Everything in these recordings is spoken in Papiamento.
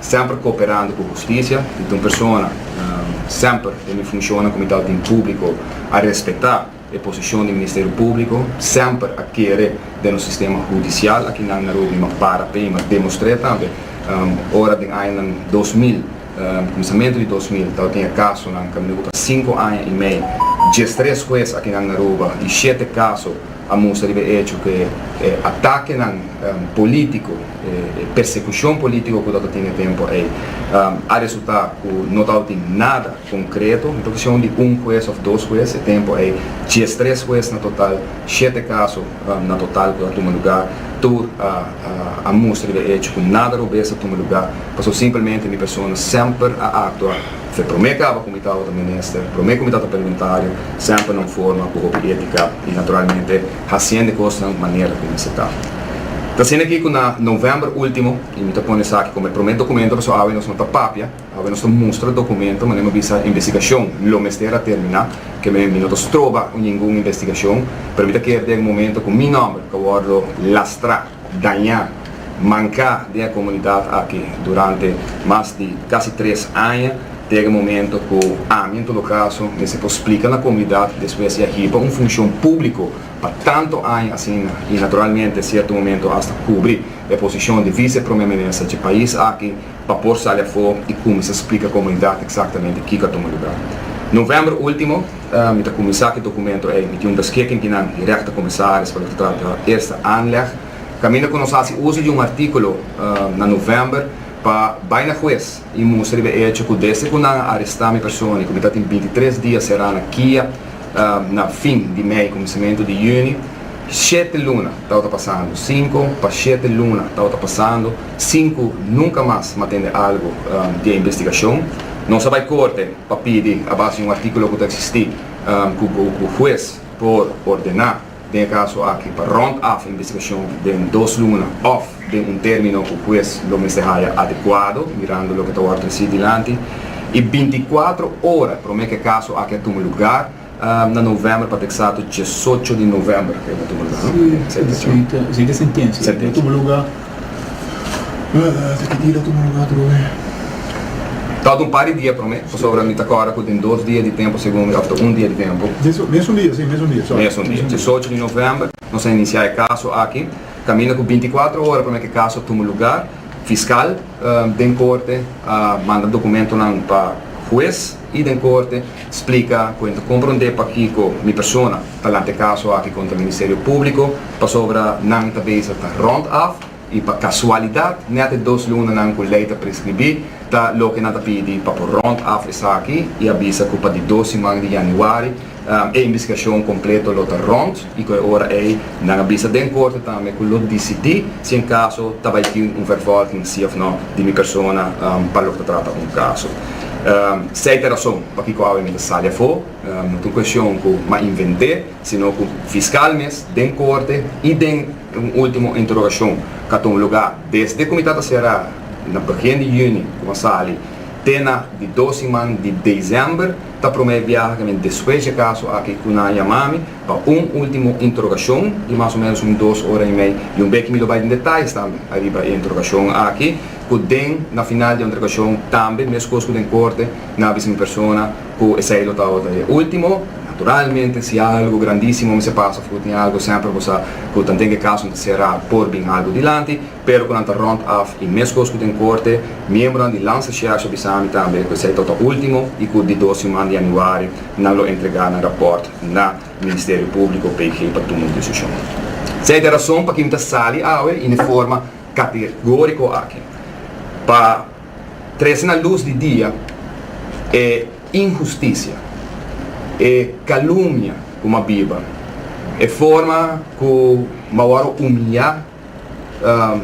Semper kooperando ku hustisia, i ta un persona semper den e funshonnan ku mi ta tin públiko a respektá e posishon di Ministerio Públiko, semper a kere den nos sistema hudisial aki nan na Robni m'a para p'ei, m'a demostr'é tambe ora den añanan dos mil, kuminsamentu di dos mil tabatin e kasonan kaminda ku ta sinku aña i mei, diestres hues aki nan Aruba i shete kaso. a mustra riba e echo ku e atakenan polítiko, e persekushon polítiko ku ta ototin e tempu ei a resultá ku no ta ototin nada konkreto. No ta keshon di un hues òf dos hues e tempu ei, dies tres hues na total, shete kaso na total ku a tuma lugá, tur a mustra riba e echo ku nada robes ta tuma lugá, pasobra simplemente mi persona semper a aktua. Fe promé kaba ku mi ta oto minister, promé ku mi ta ta perguntario, semper na un forma ku hopi étika i naturalmente hasiende kosnan manera ku mester ta. Ta asina aki ku na novèmber último, i mi ta pone esaki komo e promé dokumento paso awe nos no ta papia, awe nos ta mustra dokumento manera mi a bisa investigashon lo mester a terminá, keme mi no ta stroba ningun investigashon, pero mi ta kere den momento ku mi nòmber ta wòrdu lastrá. dañá, manká den e komunidat aki durante mas di kasi tres aña, te e momento ku ami, en todo kaso, mester por splika na komunidat despues di a hiba un funshon públiko pa tantu aña asina i naturalmente sierto momento asta kubri e posishon di Vice Prome Minister dje pais aki pa por sali afó i kuminsá splika komunidat eksaktamente kiko a tuma lugá. Novèmber último, mi ta kuminsá ku e dokumentu ei. Mi tin un beskikking di nan direkta komisaris pa lo ta trata Eerste Aanleg. Kaminda ku nos hasi uso di un artíkulo na novèmber pa bai na hues i mustra riba e echo ku desde ku nan a arestá mi persona i ku mi ta tin binti tres dia será na kia na fin di mei kuminsamentu di yüni, shete luna tabata pasando, sinku pa shete luna tabata pasando. Sinku nunka mas m'a tende algu di e investigashon, nos a bai korte pa pidi, a base di un artíkulo ku ta eksistí, ku hues por ordená den e kaso aki pa rònt af e investigashon den dos luna òf den un término ku hues lo mester haya adekuado, mirando loke ta wòrdu tresí dilanti, i binti kuatro ora promé ku e kaso aki a tuma lugar. na november pa ta eksato diesocho di november creo na tubo lugar no Esei ta sentencia na tubo lugar ta ki dia na tubo lugar otro vez ta un par di dia prome pasobra mi ta corda cu tin dos dia di tempo segun mi of ta un dia di tempo mesun dia si mesun dia mesun dia diesocho di november nos ta inicia e caso aki caminda cu binti cuatro ora prome cu e caso a tubo lugar fiscal den corte a manda documentonan pa huez. i den korte splika ku N ta komprondé pakiko mi persona ta lanta e kaso aki kontra Ministerio Públiko pasobra nan ta beza ta rònt af i pa kasualidat nèt e dos lunanan ku lei ta preskribí ta loke nan ta pidi pa por rònt af esaki i a bisa ku pa di dos siman di yanüari E investigashon kompleto lo ta rònt i ku e ora ei nan a bisa den korte tambe ku lo disidí si un kaso ta bai tin un vervolging sí òf nò di mi persona pa lo ta trata un kaso. Sei ta e rason pakiko awe mi ta sali afó, no ta un kueshon ku mi a invent'é sino ku fiskal mes den korte i den un último interogashon ku a ton lugá desde ku mi ta ta será na begin di yüni ku mi a sali te na di dos siman di desèmber Ta promé biaha ke mi despues dje kaso aki ku nan a yama mi pa un último interogashon di mas o ménos un dos ora i mei i un beki mi lo bai den detayes tambe a riba e interogashon aki ku den na final di interogashon tambe meskos ku den korte nan a bisa mi persona ku esei lo tabata e último naturalmente si algu grandísimo mester pasa for tin algu semper bo sa ku tanten ku e kaso ta será por bin algu dilanti Pero cu nan ta rond af y mescos cu den corte, miembronan di Lanza Sheriffs a bisa mi tambe cu esey tota ultimo y cu di dos siman di januari nan lo entrega nan rapport na Ministerio Publico, BG, pa tuma un decision. Esey ta e rason paki mi ta sali awe y ne forma categorico aki pa trece na luz di dia e injusticia, e calumnia cu mabiba, e forma cu mawor a humilla.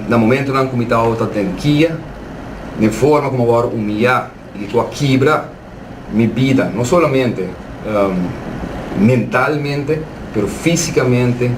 na momentonan ku mi tabata den kia, den forma ku mi a wòrdu humiliá i ku a kibra mi bida, no solamente mentalmente, pero físikamente,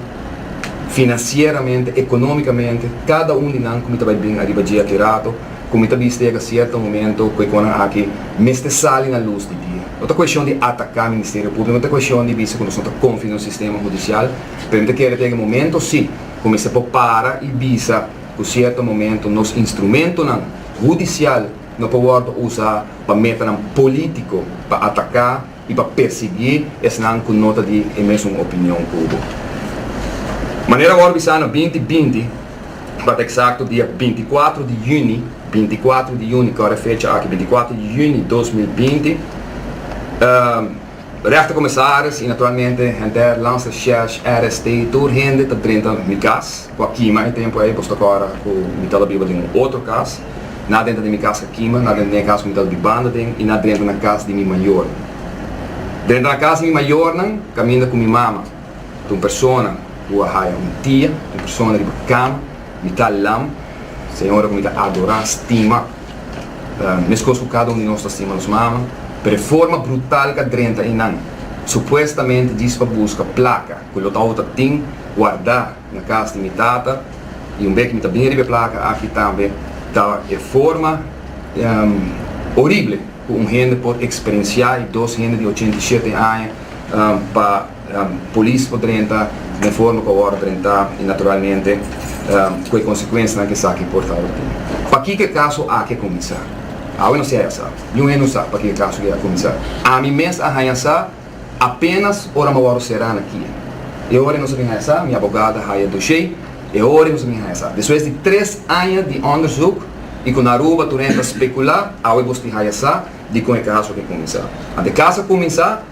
finansieramente, ekonómikamente. Kada un di nan ku mi ta bai bin ariba dje aki rato, ku mi ta bista yega sierto momento ku e konan aki mester sali na lus di dia. No ta kueshon di ataká Ministerio Públiko, no ta kueshon di bisa ku nos no ta konfia den un sistema hudisial, pero mi ta kere ta yega e momento sí, cu mester por para y bisa cu cierto momento nos instrumentonan hudicial no por wordo usa pa metanan politico pa ataca y pa persegui esnan cu no ta di e mesun opinion cu bo. Manera wordo bisa na binti binti, pa ta exacto dia binti cuatro di juni, binti cuatro di juni, core fecha aki, binti cuatro di juni dos mil binti, Rechtercommissaris y naturalmente henter Lanster Schersch RST tur hende ta drenta mi cas cu a kima e tempo ey, bos ta cora cu mi tababiba den un otro cas, na drenta den mi cas ca kima, na drenta den e cas cu mi tababi banda den y na drenta na cas di mi mayor. Drenta na cas di mi mayornan caminda cu mi mama ta un persona cu a haya un tia, un persona riba cama, Mi ta lam, se ora ku mi ta adorá, stima. Meskos ku kada un di nos ta stima nos mama, pero e forma brutal ku a drenta einan, supuestamente djis pa buska plaka ku lo tabata ta tin guardá na kas di mi tata, i un bek mi ta bin riba e plaka aki tambe, ta e forma orible ku un hende por eksperensiá, i dos hende di ochenta i shete aña pa. Polis por drenta na e forma ku a wòrdu drentá i naturalmente ku e konsekuensianan ku esaki por tabata tin. Pakiko e kaso aki a kuminsá? Awe nos siai a sa. Niun hende no sa pakiko e kaso aki a kuminsá. Ami mes a haña sa apénas ora mi a wòrdu será na kia. E ora nos a bin haña sa, mi abogado a haya doshé e ora nos a bin haña sa. Despues di tres aña di òndersuk i ku na Aruba tur hende ta spekulá, awe bos tin haya sa dikon e kaso aki a kuminsá. Ant e kaso a kuminsá.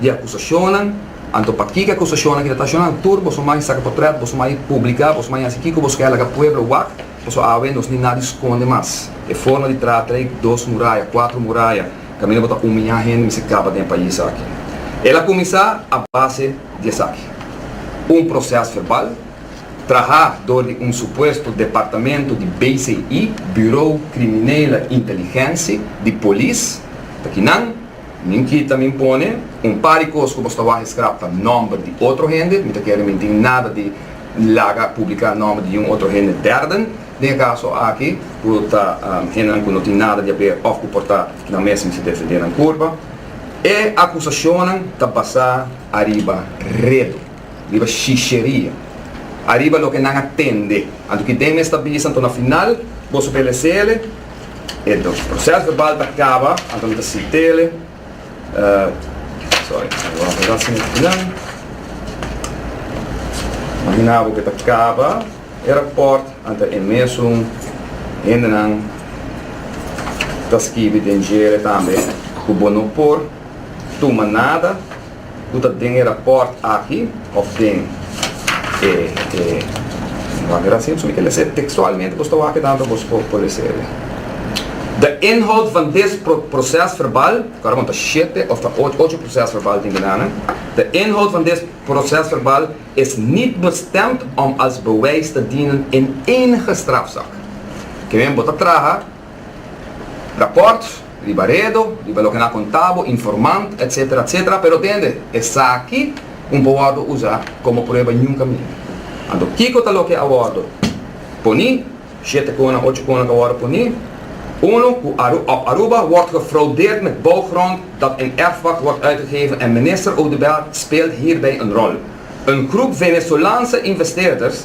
di akusashonnan, anto pa kiko e akusashonnan kita ta ashonnan? Tur boso mai saka potret, boso mai publika, boso mai hasi kiko boso kai laga pueblo wak, paso awe nos ni nadi skonde mas. E forma di traha trei dos muraya, kuater muraya, kaminda bo ta umiña hende mester kaba den e pais aki. El a kuminsá a base di esaki, un proses verbal traha dor di un supuesto departamento di BCI, Bureau Criminele Inteligensi, di polis, ta kinan, Min kita min pone un par di cos cu bos ta waje scrap pa nomber di otro hende, mi ta kere min tin nada di laga publica nomber di un otro hende derden den e caso aki cu ta hendenan cu no tin nada di haber of cu por ta nan mesmo si defende nan curpa. E acusacionnan ta basa ariba reto. Riba shisheria. Ariba loke nan a tende. Anto ki den mes ta bisa anto na final boso telesele e proces verbal ta caba anto mi ta si tele sorry mi wou arregla sin e nan imagina bo ke ta caba e rapport anto e mesun hende nan ta skibi den jere tambe ku bo no por tuma nada. Cu ta den e rapport aki of den e e Wak Rasim so mi ta lese textualmente bos ta wak e data bos por por lese e. De inhoud van des pro proces verbal, Karo bon ta shete of ta och ocho proces verbal tin benana, de inhoud van des proces verbal is niet bestemd om als bewijs te dienen in enige strafzaak. Ke men bo ta traha. Raport, riba redo, riba loke nan a konta bo, informant, etsetera, etsetera, pero tende, esaki un por wòrdu usa komo prueba nunka minda. Anto kiko ta loke a wòrdu poni? Shete konan, ocho konan ka wòrdu poni. Uno, ku op Aruba wòrdu gefraudeerd met bouwgrond dat in erfpacht wòrdu uitgegeven en minister Oduber speelt hierbij een rol. Een groep Venezolaanse investeerders,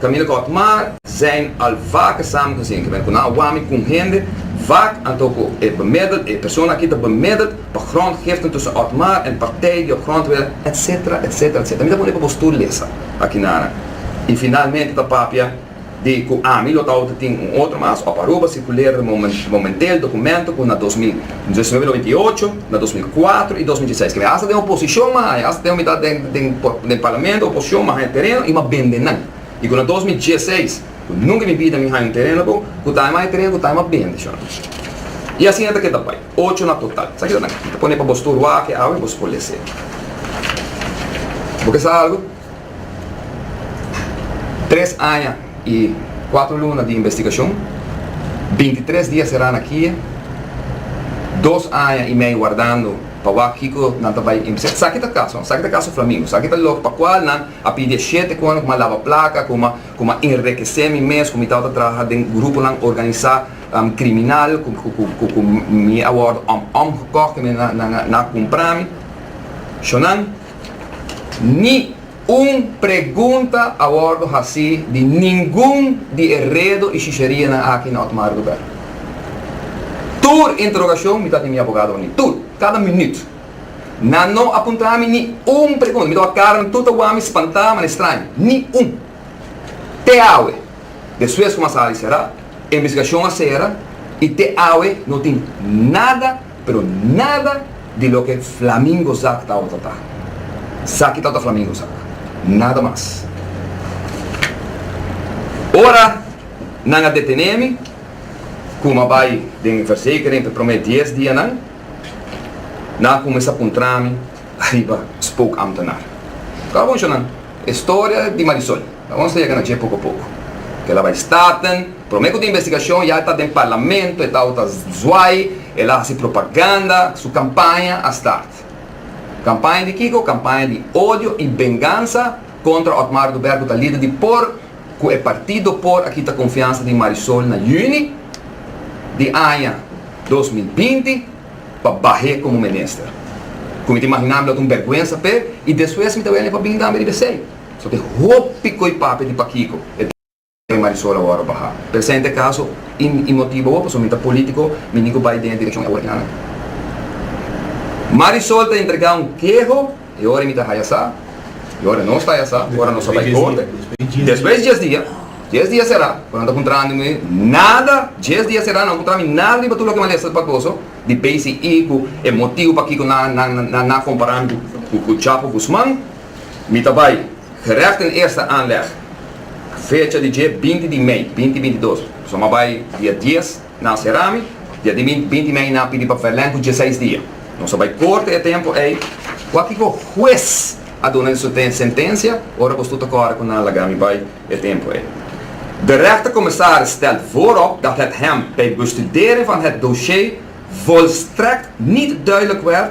Camila Kok, Maar, zijn al vaker samen gezien geweest, kuna a wami kun hende, vaak anto ku e bemiddel, e persona aki ta bemiddeld pa grondgiften tussen Otmar en partij di op grond wela, etc. Etc. Etc. Mi ta pone pa bo stoel lesa aki nana i finalmente ta papia di ku ami lo ta outa tin un otro mas op Aruba circuleerde momenteel documento ku na dos mil Desnove noventa i ocho, na dos mil kuater i dos mil dieseis, kende hasta den oposishon mas haña, hasta den mitat den parlamento, oposishon mas haña tereno i mas bende nan. I ku na dos mil dieseis, ku nunka mi bida mi haña un tereno bo, ku ta haña mas haña tereno ku ta haña mas bende, shor. I asina ta keda bai, ocho na total. Sa kitanan? Mi ta pone pa bos tur wak e awe i bos por les'é. Bo ke sa algu? Tres aña y cuatro luna di investigacion, bintitres dia será na kie, dos aña y mei wardando pa wak kico nan ta bay impisá. Esaki ta caso, no? Esaki ta caso Flamingo. Esaki ta lo pa cual nan a pidi e shete cu nan, cu mi a laba placa, cu mi cu mi a enrequece mi mes, cu mi tabata traha den gruponan organisa criminal, cu cu cu cu mi a wordo om om gekocht y nan a nan a nan a cumpra mi. Sho nan. Ni un pregunta a wordo haci di ningun di e redo y shisharianan aki na Otmar lugar. Tur interrogacion mi ta tin mi abogado wani, tur, cada minuut. Nan no a puntra mi ni un pregunta, mi ta wak cara nan tur ta wami spanta mana estraño, ni un. Te awe, despues cu masada y cera, e investigacion a cera y te awe no tin nada. pero nada di loke Flamingo zak ta ota ta. Saki ta ota Flamingo zak. Nada mas. Ora nan a detené mi, kuma a bai den e verzekering p'e promé dies dianan, nan a kumesa puntra mi ariba spookambtenaar. Ku a buncho nan? E storia di Marisol. Nos ta yega na dje poko poko. Ke la bai starten. Prome ku tin investigashon ya e ta den parlamento, e ta outa zwai, e la hasi propaganda, su kampaña a start. Kampaña di kiko? Kampaña di odio i bengansa kontra Otmar Duber ku ta lider di por, ku e partido por a kita konfiansa di Marisol na yüni di aña dos mil binti pa bah'é komo minister. Ku mi ta imaginá mi lo ta un bèrgwensa p'e i despues mi ta wene pa bini tambe riba esei. So tin hopi koe papia di pakiko e ta e Marisol awor baha. Presente kaso y mi motibo awor pasobra mi ta politico mi ni ku bai den e direccion awor tin aña. Marisol ta entrega un keho e ora mi ta haya sa y ora nos ta haya sa ora nos a bai corte despues dies dia dies dia sera cu nan ta cuntra mi nada dies dia sera nan cuntra mi nada riba tur loke malesta ta pacoso di bci cu e motibo pakiko nan nan nan nan na compara mi cu cu Chapo Guzman. Mi ta bai gerecht den eerste aanleg fecha di dje binti di mei binti binti dos. So m'a bai dia dies na Serami, dia di binti binti mei nan a pidi pa Belen cu djeseis dia. Nos a bai corta e tempo ei. Cua kico hues a duna e sute sentencia ora bos tur ta corre cu nan laga mi bai e tempo ei? De rechtercommissaris stelt voorop dat het hem bij bestudering van het dossier volstrekt niet duidelijk werd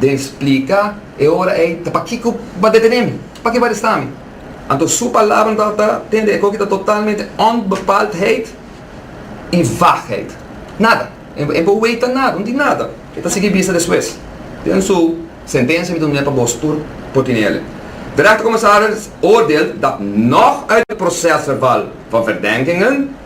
Den splika e ora ei ta pakiko ba detenémi? Pakiko ba arestami? Anto su palabranan tabata tende e koki ta totalmente onbepaldheid i vagheid. Nada. E bo weta nada, bo no tin nada. E ta sigui bista despues. Den su sentensia mi ta duna e pa boso tur por tene el. De rechtercommissaris oordeel dat nog uit de procesverbal van verdenkingen,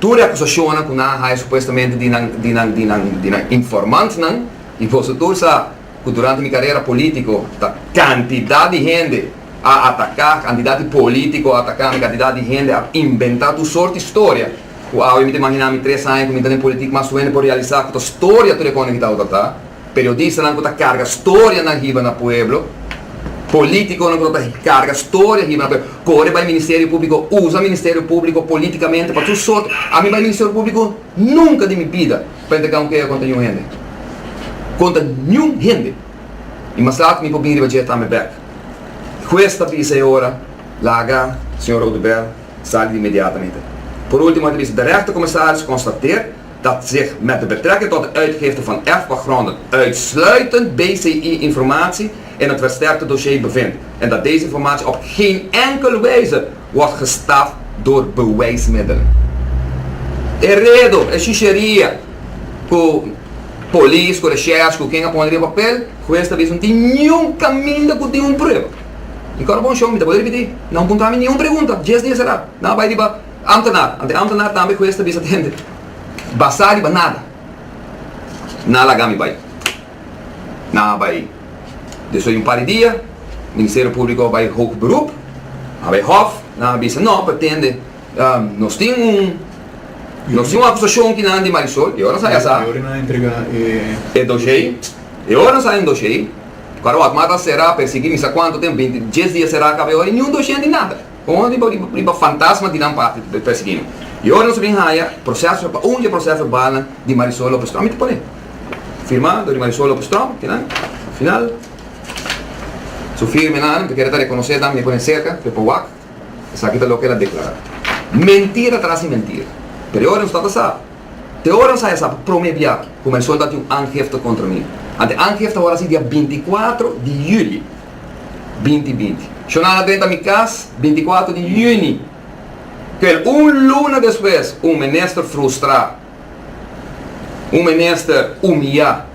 tur e akusashonnan ku nan a haya supuestamente di nan di nan di nan di nan informantnan i boso tur sa ku durante mi karera polítiko ta kantidat di hende a ataká kantidat di polítiko a ataká mi kantidat di hende a inventá tur sort di storia ku awe mi ta imaginá mi tres aña ku mi ta den politik mas tu hende por realisá ku ta storia tur e kònde ki ta outatá. Periodistanan ku ta karga storianan hiba na pueblo, polítikonan ku lo ta karga storia hiba na pueblo, kore bai Ministerio Públiko, usa Ministerio Públiko polítikamente pa tur sort. Ami bai Ministerio Públiko nunka di mi bida pa yanta gau kea kontra niun hende, kontra niun hende. I mas laat mi por bin riba dje ta mi bèk. Hues ta bisa e ora, Laga señor Oduber sali di inmediatamente. Por último e ta bisa, Derechtercommissaris constateert, dat zich met de betrekking tot de uitgifte van erfpagronden uitsluitend BCI-informatie in het versterkte dossier bevindt en dat deze informatie op geen enkele wijze wordt gestaf door bewijsmiddelen. E redo, e shusheriya cu Polis, cu Recherche, cu ken a pone riba papel, Huez ta bisa no tin niun caminda cu tin un prueba. Mi cor a bon show, mi ta bolbe ripiti, no a punta mi niun pregunta, dies dia sera, no a bay riba. Amtenar, Ante amtenar tambe hues ta bisa tende basá riba nada. Nan a laga mi bai. Nan a bai despues di un par di dia, Ministerio Públiko a bai hoog beroep, a bai hof, nan a bisa no pa tende nos tin un nos tin un akusashon ki nan di Marisol, e ora nan sa ya sa e doshei, e ora nan sa e doshei, kua Rotma ta será, persiguí mi sa kuantu tempu, binti dies dia será, kaba e ora i niun doshei di nada. Konjo di bo riba fantasma di nan parti ta persigino. I ora nos a bin haya proseso pa un dje proseso bala di Marisol Lopez Strong mi ta pone firma dor di Marisol Lopez Strong kinan final su firmenan mi ta kere ta rekonosé tambe mi pone serka p'e powak esaki ta loke el a deklará. Mentira tras di mentira. Pero i ora nos tabata sa te ora nos haya sa pa prome bia ku Marisol tabata tin un angefta kontra mi. Ante angefta awor a si dia binti kuatro di yuli binti binti. Shonan a drenta mi kas bintikuater di yüni, pero un luna despues un minister frustrá, un minister humiyá,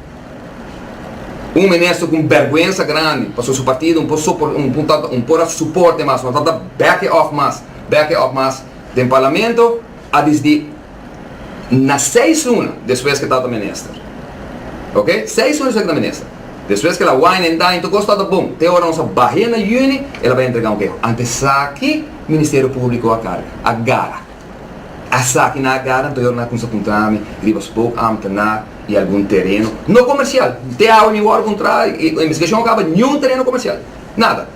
un minister ku bèrgwensa grandi pasobra su partido no ta un por a suporte mas, no ta bèk'e òf mas, bèk'e òf mas den parlamento a disdi. na seis luna despues ke tata minister. Ok, seis luna despues ke ta minister. Despues ke la wine and dine, tur kos tata bon. Te ora nos a bahia na juni, el a bai entrega un keho. Ante esaki, Ministerio Públiko a karga, a gara. Esaki nan a gara, anto yoda nan a kuminsa puntra mi riba Spoke Ambtenaar i algun tereno, no komersial. Te awe mi wòrdu puntra, e investigashon a kaba, niun tereno komersial. Nada.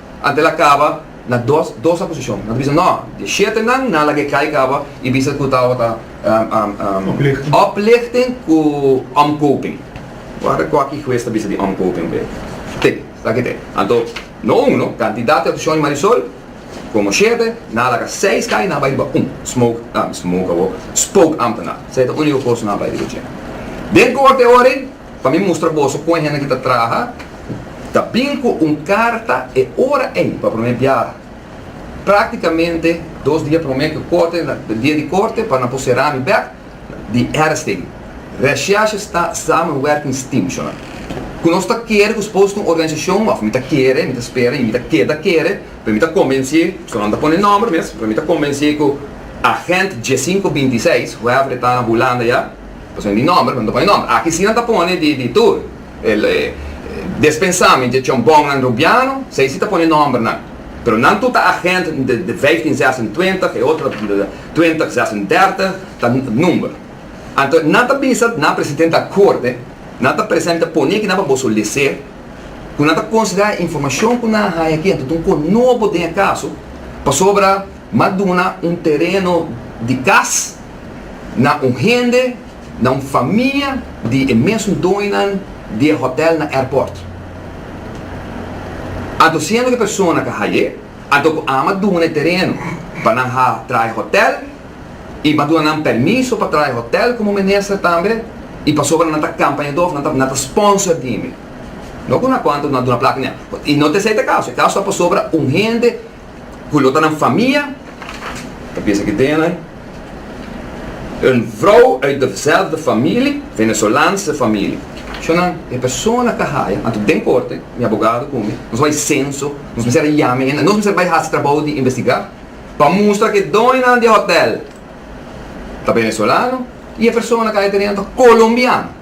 Antes la caba na dos dos acusacion. Nan ta bisa no, di shete nan nan laga e cai caba y bisa cu tawo ta oplichting cu omkoping. Guarda cuaki huez ta bisa di omkoping be. Te, esaki te. Anto no uno, cantidad di acusacion di Marisol como shete, nan a laga seis cai y nan a bay riba un smoke, smoke awo, spoke ambtenaar. Sa e ta unico cos nan a bay riba dje. Den corte oren. Pa mi mustra boso con e hende ki ta traha, ta bin cu un carta e ora ey pa prome biaha. Practicamente dos dia prome cu corte na dia di corte pa nan por cera mi bek di Erstegen, Recherche sta Samenwerkingsteamshonen. Cu nos ta kere cu Spooks con organisacion, of mi ta kere, mi ta spera y mi ta keda kere, pero mi ta convencé, pasobra no ta pone nomber mes, pero mi ta convencé cu agent J526, whoever e ta na Hulanda ya, Pasobra mi nòmber, nan ta pone nòmber. Aki sí nan ta pone di, di tur. Despensá mi dje chòmbòngnan rubiano, esei sí ta pone nòmbernan. Pero nan tur ta agent de, de vijftien zesentwintig, e otro ta twintig zesendertig, ta nùmber. Anto nan ta bisa ta nan presidente a korte, nan ta presente poné kinan pa boso lesé, ku nan ta konsiderá e informashon ku nan a haña aki, anto ta un kos nobo den e kaso, pasobra. M'a duna un tereno di kas na un hende, na un famia di e mesun doñonan di e hotel na airport. A dosiendo di persona ke haye ato ku a m'a duna e tereno pa nan ha traha e hotel i m'a duna nan permiso pa traha e hotel komo minister tambe i pasobra nan ta kampañadó òf nan ta sponsor di mi. No ku unakuantu no a duna plata ni a i no t'esei ta e kaso. E kaso ta pasobra un hende Cu lo ta nan famia, ta bisa cu den ai un vrouw uit dezelfde familie, Venezolaanse familie. Sho nan, e persona ta haya, anto den corte, mi abogado cu mi, nos bay censo, nos mester a yama hende, nos mester bay haci trabou di investiga pa mustra cu e doñonan di e hotel ta Venezolano y e persona cu haya teren ta Colombiano.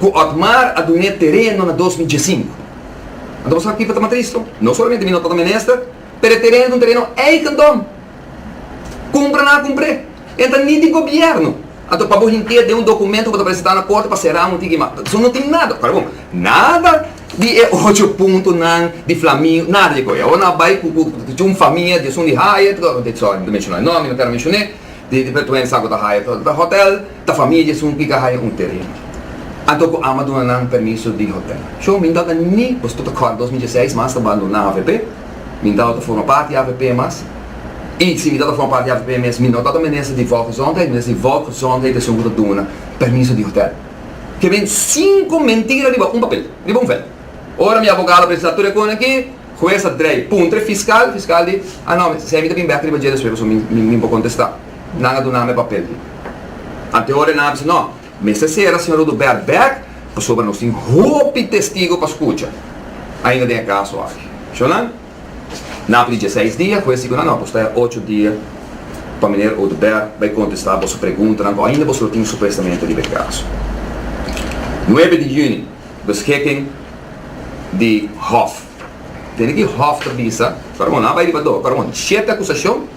ku Otmar a dun'é tereno na dos mil diesinku. Anto bo sa kipa ta mas tristu? No solamente mi no ta ta menester, pero e tereno ta un tereno eigendom. Kumpra nan a kumpr'é. E no ta ni di gobièrnu. Anto pa bo hint'é den un dokumento ku bo ta presentá na korte pa será un tiki ma su no tin nada. Para bon, nada di e ocho puntonan di Flamingo, nada di e kos. Awor nan a bai ku ku cu un famia di esun di haya, sorry, mi ta menshoná e nòmber, mi no kèr a menshoné, di di pertuensa ku ta haya ta hotèl. Ta famia dje esun ki ka haya un terren. Anto ku Ama duna nan permiso di hotel. Shon, mi no tabata ni, bo sta ta kòrda dos mil dieseis, mas ta bandoná avp. Mi no tabata forma parti di avp mas. I si mi tabata forma parti di avp mes, mi no tabata minister di Volksgezondheid, minister di Volksgezondheid ta esun ku ta duna permiso di hotel. Ke ben sinku mentira riba un papel, riba un vel. Ora mi abogado a presentá tur e kona aki, hues a drei puntre fiskal, fiskal di, a no, mi ta bin bèk riba dje despues pasobra mi no por kontestá. Nan a dunami e papel di. Antehoor e nan a bisa, No, mester sera señor Oduber bek, pasobra nos tin hopi testigo pa skucha ainda den e kaso aki. Shon nan? Nan a pidi dieseis dia, hues di ku nan, No, boso ta ya ocho dia pa meneer Oduber bai kontestá boso preguntanan ku ainda boso lo tin supuestamente riba e kaso. Nuebe di yüni, beschikking di hof. Tene ki hof ta bisa, Faraon, nan a bai riba do, Faraon, shete akusashon.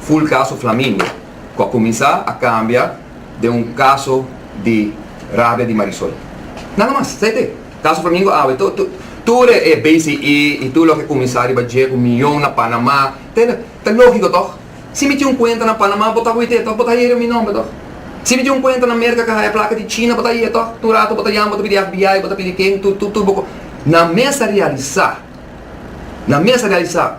Full Caso Flamingo, cu a cuminsa a cambia den un caso di rabia di Marisol. Nada mas, sa y t'e. Caso Flamingo awe to, to, tur e, e BCE y tur loke cuminsa riba dje cu miyon na Panama, ta, ta logico toch? Si mi tin un cuenta na Panama, bo ta wit'e toch? Bo ta haya riba mi nomber toch? Si mi tin un cuenta na Merca ca haya placa di China, bo ta haya toch? Tur rato bo ta yama, bo ta pidi FBI, bo ta pidi ken, tur, tur, tur bo, nan mes a realisa, nan mes a realisa.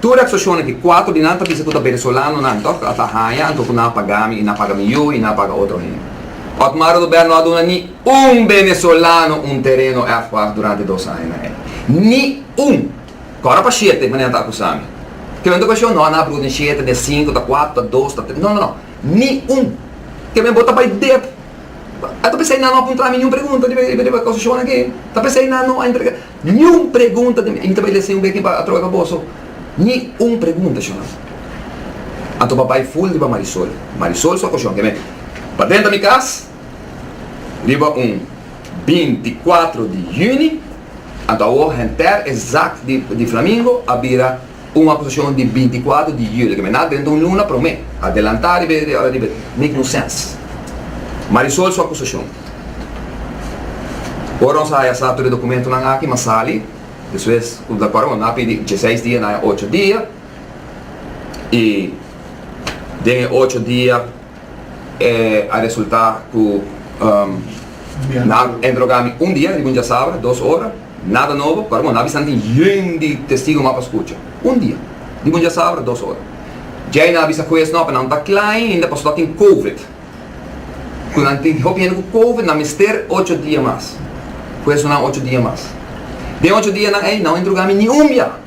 Tur aksashonnan ki kuater di nan ta bisa ku ta Benesolanonan tok a ta haña anto ku nan a paga mi i nan a paga mi yu i nan a paga otro hende. Otmar Oduber no a duna ni un Benesolano un tereno èfwag durante dos añanan ei. Ni un! Ku ora pa shete e manera nan ta akusá mi. Ke bendo ku ashò? No, nan a bruta den shete, den sinku, ta kuater, ta dos, ta tres. No, no, no! Ni un! Ke men bo ta bai dep. A ta pensa ei nan no a puntrá mi niun pregunta riba e kosashonnan akí? Ta pensa ei nan no a entrega. Niun pregunta den mi. I mi ta bai lese un bek riba atrobe pa boso. Ni un pregunta, Shoney. Anto ba bai ful riba Marisol. Marisol su akoshon kende pa denta mi kas riba un binti kuatro di yüni. Anto awo henter esakt di Flamingo a bira. Un akusashon di binti kuater di juli, kemena drenta un luna promé, adelantá riba e ora riba e. Make no sense. Marisol su akusashon. Ora nos a haya sa tur e dokumentunan aki m'a sali, despues ku ta kòrda bo nan a pidi dieseis dia, nan a haya ocho dia, i den e ocho dia, E a resulta cu nan a interroga mi un dia riba un diasabra, dos ora, nada nobo, pasobra bo no a bisa tin yen di Testigonan pa scucha. Un dia, riba un diasabra, dos ora. Djei nan a bisa Hues, no, pa nan ta cla ainda pasobra tin Covid. Cu nan tin hopi hende cu Covid, nan mester ocho dia mas. Hues duna nan ocho dia mas. Den ocho dianan ei, nan no a interroga mi ni un bia.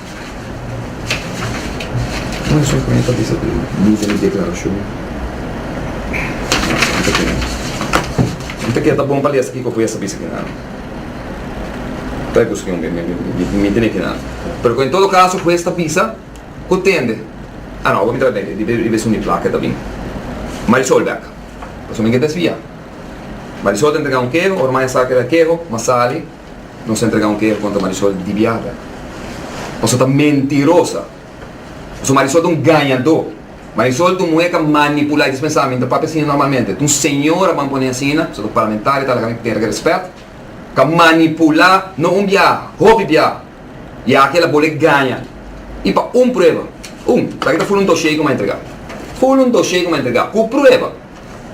Nan son pone pa bisa ku bisa di deklarashon N ta keda N ta keda ta bon pa lesa kiko ku e sa bisa keda Ta e buska un bes mi mi tene keda pero ku en todo kaso hues ta bisa ku tende a no awo mi ta bini debe debe esun di plaka e ta bini Marisol bek pasobra mi ke desvia Marisol ta entrega un keho ora maya sa keda keho masali. Nos a entrega un kere kontra Marisol di biaha. Paso ta mentirosa. Paso Marisol ta un gañadó. Marisol ta un muhé ka manipulá. Disna pensá, mi ta papia asina normalmente. Ta un señora ban poné asina, paso ta parlamentaria ta laga mi tene respet. Ka manipulá, no un biaha, hopi biaha. I aki el a bol'é gaña. I pa un prueba. Un. Taki ta ful un doshé ku mi a entregá. Ful un doshé ku mi a entregá, ku prueba.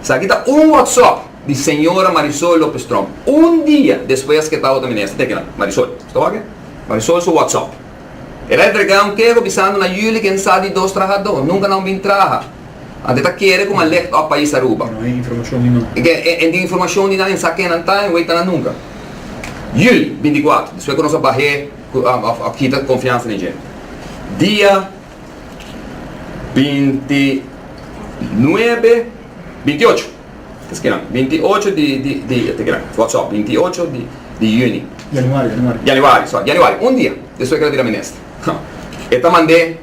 Esaki ta un WhatsApp di señora Marisol Lopez Tromp un dia despues a sketa otro minister. Teken nan, Marisol. Sta wak e? Marisol su WhatsApp. El a entrega un kego bisando na Julie ke n'sa di dos trahadó. Nunca nan bin traha. Anto e ta kere ku m'a licht òf pais Aruba. No hay informacion di nan. Ke e tin informacion di nan e n'sa ken nan ta en weita nan nunca. Julie, binti kuater, despues ku nos a bah'é ku a kita konfiansa den dje. Dia. Binti nuebe, binti ocho, es kinan, binti ocho di, di, di, te kinan, wak sòp, binti ocho di, di yüni. Januari, januari. Januari, sòri, januari, un dia despues ku el a bira minister, ha, e ta mand'é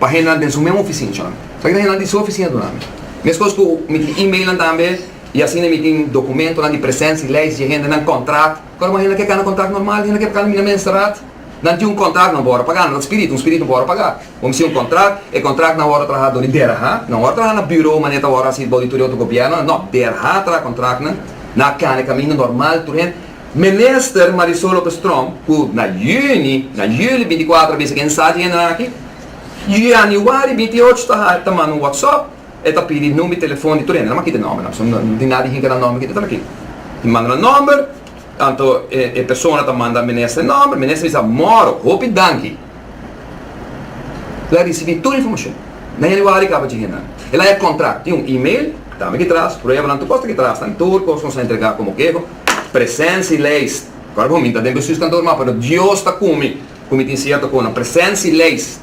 pa henda den su men ofisinchanan. Sa kiko hendanan di su ofisina duna mi? Meskos ku mi tin e-mailnan tambe, i asina mi tin dokumentonan di presensi, lei, si dje hendenan, kòntrat. Kòrda ku henda ke kana kòntrat normal, henda ke pa kana mina mensteraad. Nan tin un contract nan wòrdu pagá. Nan ta spiritu, un spiritu wòrdu pagá. Bo mester tin un contract, e contract nan wòrdu traha dor di DERHA. Nan wòrdu traha na buro manera ta wòrdu hasi bou di tur e otro gobièrnunan. Nò, DERHA a traha contract nan, nan a kana e kaminda normal di tur hende. Minister Marisol Lopez-Tromp ku na yüni, na yüli bintikuatro a bisa ku e ensachi hendenan aki, yaniuari bintiuocho ta ha, ta manda un wòtsòp, e ta pidi number i telefòn di tur hende. Nan m'a kita e nòmbernan pasobra nan tin nada di hinka nan nòmber kita tur aki. I manda nan nòmber. Tanto e persona ta manda minister nomber, minister bisa moro, hopi danki. Lo a risibi tur informashon. Na yanüari kaba djigi nan. El a haña kontrakt, tin un email, tambe ki tras, pruebanan, tur kos ta ki tras tambe, tur kos nos a entregá komo keho, presensi leis, kòrda ku mi ta den bestuurs kantoor mò, pero Dios ta ku mi, ku mi tin sierto konan, presensi leis,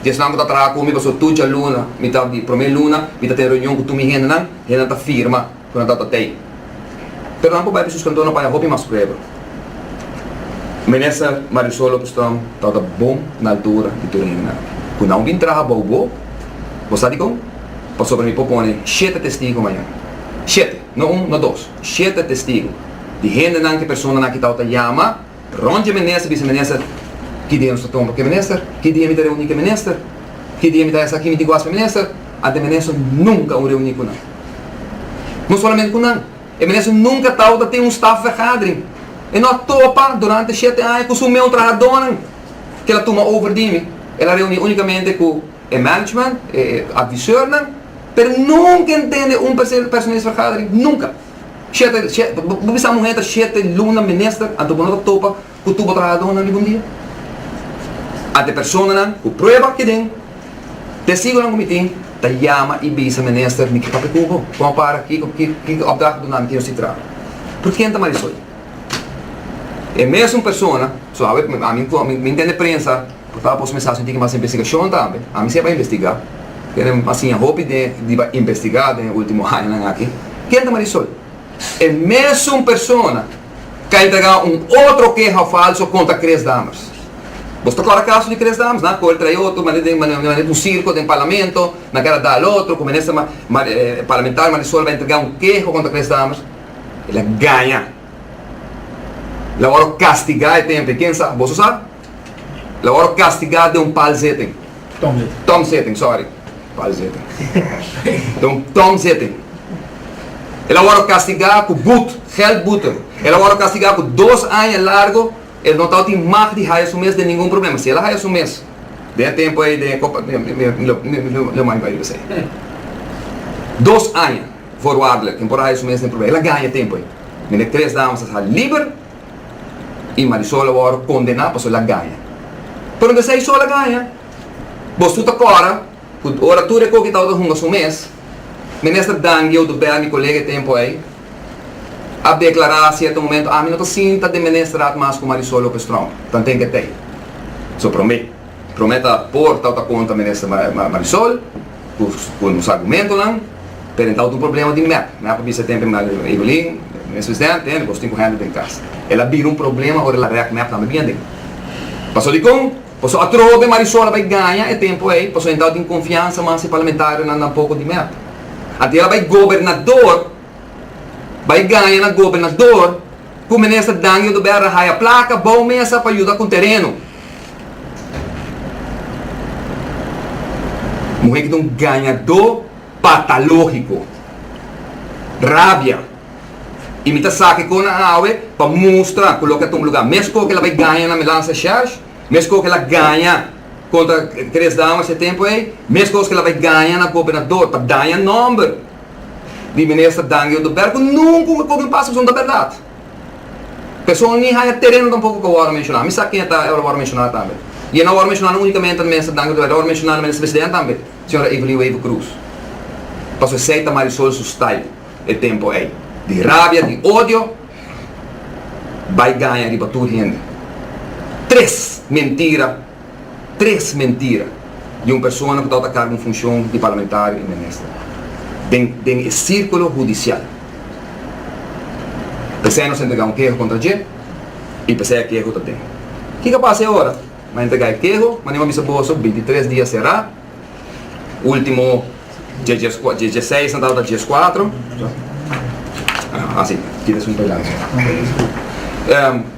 di esnan ku ta traha ku mi, pastor tur djaluna, mitad di promé luna, mi ta ten reunion ku tur mi hendenan, hendenan ta firma. ku nan tabata tei. Pero nan por bai pa sus kantonan paña hopi mas prueba. Minister Marisol Lopez Storm tabata bon na altura di tur hende nan. Ku nan bin traha bou bo, bo sa dikon? Pasobra mi por pone shete testigu mañan. Shete, no un, no dos, shete testigu di hendenan ku personanan ku tabata yama. Rond dje minister bisa minister, Ki dia nos ta toma pa ke minister? Ki dia mi ta reuni ke minister? Ki dia mi ta esaki mi diguas pa minister? Ante minister nunka un reuni ku nan. No solamente ku nan, e minister nunka tau ta tin un staff vergadering. E no a topa durante shete aña ku su meu trahadonan ke el a tuma over di mi. El a reuni unikamente ku e management, e adviseurnan, pero nunka entende un personeelsvergadering, nunka. Shete, she, bo bisa muhé ta shete luna menester anto bo no ta topa ku tur bo trahadónan riba un dia? Ante personanan ku prueba ke den, Tesigunan ku mi tin ta yama i bisa menester mi ke papia ku bo. Kon a para ki ki opdracht ku dunami tin yo si traha. Por ken ta Marisol? E mesun persona, so awe ami mi ntende prensa, Ta pos mes haci diki mas investigacion tambe. Ami sey bay investiga. Tene mas siña hopi den di bay investiga den e ultimo añanan aki. Ken ta Marisol? E mesun persona cu a entrega un otro keha falso contra Chris Dammers. Bos ta cora caso di Chris Dammers, na? Cu el trae otro manera den manera di un circo den Parlamento, na keda da al otro cu minister parlamentario Marisol bay entrega un keho contra Chris Dammers. El a gaña. El a worde castiga e tempo. Ken sa? Boso sa? La ora castigá den un pal zeten. Tong zeten, sorry. Pal zeten. Den un tong zeten. El a wòrdu kastigá ku but, geldboete. El a wòrdu kastigá ku dos aña largu. El no tabata tin mag di haya su mes den ningun problema. Si el a haya su mes den e tempu ei, den e kopa, lo mai bai riba esei. Dos aña, voorwaardelijk. Temporada haya su mes, no hay problema. El a gaña tempu ei. Binnen tres dames a sa liber. y Marisol a worde condena pasobra el a gaña. Pero no ta esey solo el a gaña. Bos tur ta cora cu ora tur e coki tabata hunga su mes, Minister Dangie Oduber, mi colega e tempo ey, a declara cierto momento, ami no ta sinta den Ministerraad mas cu Marisol Lopez Strong, tan ten getey. So prome, prome ta por tabata contra Minister Marisol. Cu nos argumentonan, pero entau ta un problema di mep. Mep a bisa tempe, Evelyn, mes presidente, eh, nos tin cu hende den cas. El a bira un problema ora el a rek mep tambe bien den. Paso dicon? Paso atrobe Marisol a bay gaña e tempo ey, paso entau a tin confiansa mas si parlamentarionan dan poco di mep. Anto el a bay gobernador, bay gaña na gobernador, Ku Minister Dangio de Berra haya plaka bou mesa pa yuda ku tereno. Muhe ki ta un gañadó patalógiko. Rabia. I mi ta sa ke kona awe pa mustra ku loke ta un lugá. Mes koke el a bai gaña na Melanza Shersh, mes koke el a gaña kontra Chris Dauma se tempu ei, mes kos ke el a bai gaña na Gobernador, ta daña nòmber. di minister Dani Oduber cu nunca un coge un paso pasobra ta berdad. Persoon ni haya tereno tampoco cu a worde menciona. Mi sa ken ta e lo worde menciona tambe. Y e no a worde menciona no unicamente na minister Dani Oduber, e a worde menciona na minister president tambe, señora Evelyn Wever Croes. Pasobra esey ta Marisol su style e tempo ey. Di rabia, di odio, bay gaña riba tur hende. Tres mentira. tres mentira di un persona ku tabata kargo un funshon di parlamentario i minister den den e sirkulo hudisial. P'esei nos a entregá un keho kontra dje i p'esei e keho ta den. Kiko a pasa e ora? Nan a entregá e keho, manera ku a bisa boso, bintitres dia será. Ultimo djezesei santa ata djezkuatro. Asi, kida es un pedaso.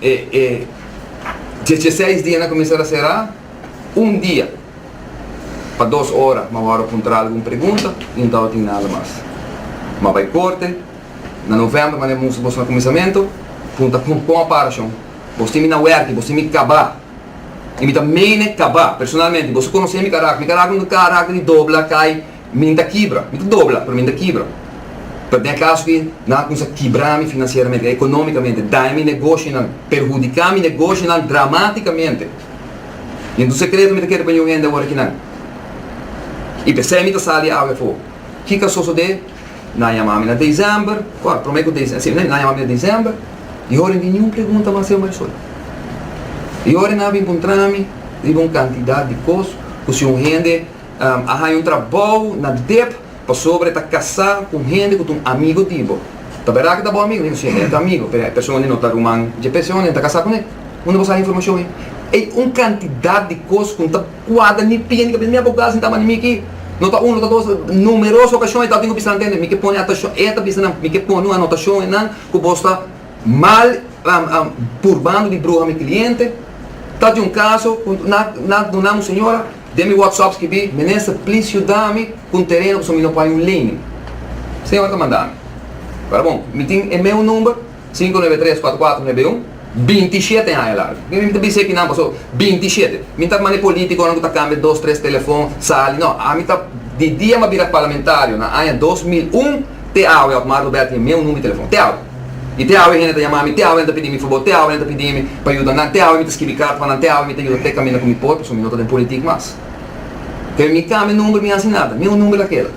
E djezeseis dia na kuminsar a será un dia pa dos ora, ma wou a puntra algun pregunta i no tin nada mas. Ma bai korte na novèmber, manera mi muster boso na kuminsamentu, punta kon a para shon. Bos tin mi na wèrk'i, bos tin mi kabá. Y mi ta mene caba. Personalmente, boso conoce mi carácter. Mi carácter no ta carácter di dobla, cay. Mi ta kibra. Mi ta dobla, pero mi no ta kibra. Pero den e caso aki, nan a cuminsa kibra mi financieramente, economicamente, daña mi negocionan, perhudica mi negocionan dramaticamente. Yen tu secreto mi ta kere pa ñuhende awor aki nan. Y p'esey mi ta sali awe afo. Kiko a sosodé? Nan a yama mi na desèmber, kòrda, promé ku desèmber, sí, nan a yama mi na desèmber, i oren niun pregunta mas seu maisol. I oren nan a bin puntra mi riba un kantidat di kos ku si un hende a haña un trabou na dep pasobra e ta kasá ku un hende ku ta un amigu di bo. Ta bèrdad ku e ta bo amigu? Niun, sí, e ta amigu, pero e persona ei no ta ruman dje p'e, si onen ta kasá kuné? Unda bo sa informashon ei? Ei un kantidat di kos ku N ta. Kuadra mi pia, mi ta bisa, mi abogadonan tin tabanan mi aki, no ta un, no ta dos, numeroso okashon e tabata ku bisa nan tende, mi ke pone atashon, e ta bisa nan, mi ke pone un anotashon einan ku bos ta mal purbando di bruha mi kliente, ta tin un kaso ku nan a duna un señora den mi whatsap skibi, minister please yuda mi ku un tereno pasobra mi no por haya un lening, señora ta manda mi, ta bon, mi tin e meu number. Sinku nuebe tres kuater kuater nuebe un, binti shete haña largu. Mi mi ta bisa e kinan paso, binti shete. Mi ta mane politikonan ku ta kambia dos tres telefon, sali, no, ami ta di dia mi a bira parlamentario na aña dos mil un te awe Otmar Robert tin e meu number di telefon, te awe. I te awe hende ta yama mi, te awe nan ta pidi mi fabor, te awe nan ta pidi mi pa yuda nan, te awe mi ta skibi karta pa nan, te awe mi ta yuda te kaminda ku mi por paso mi no ta den politik mas. Pero mi kambia number mi hasi nada, meu number ta keda.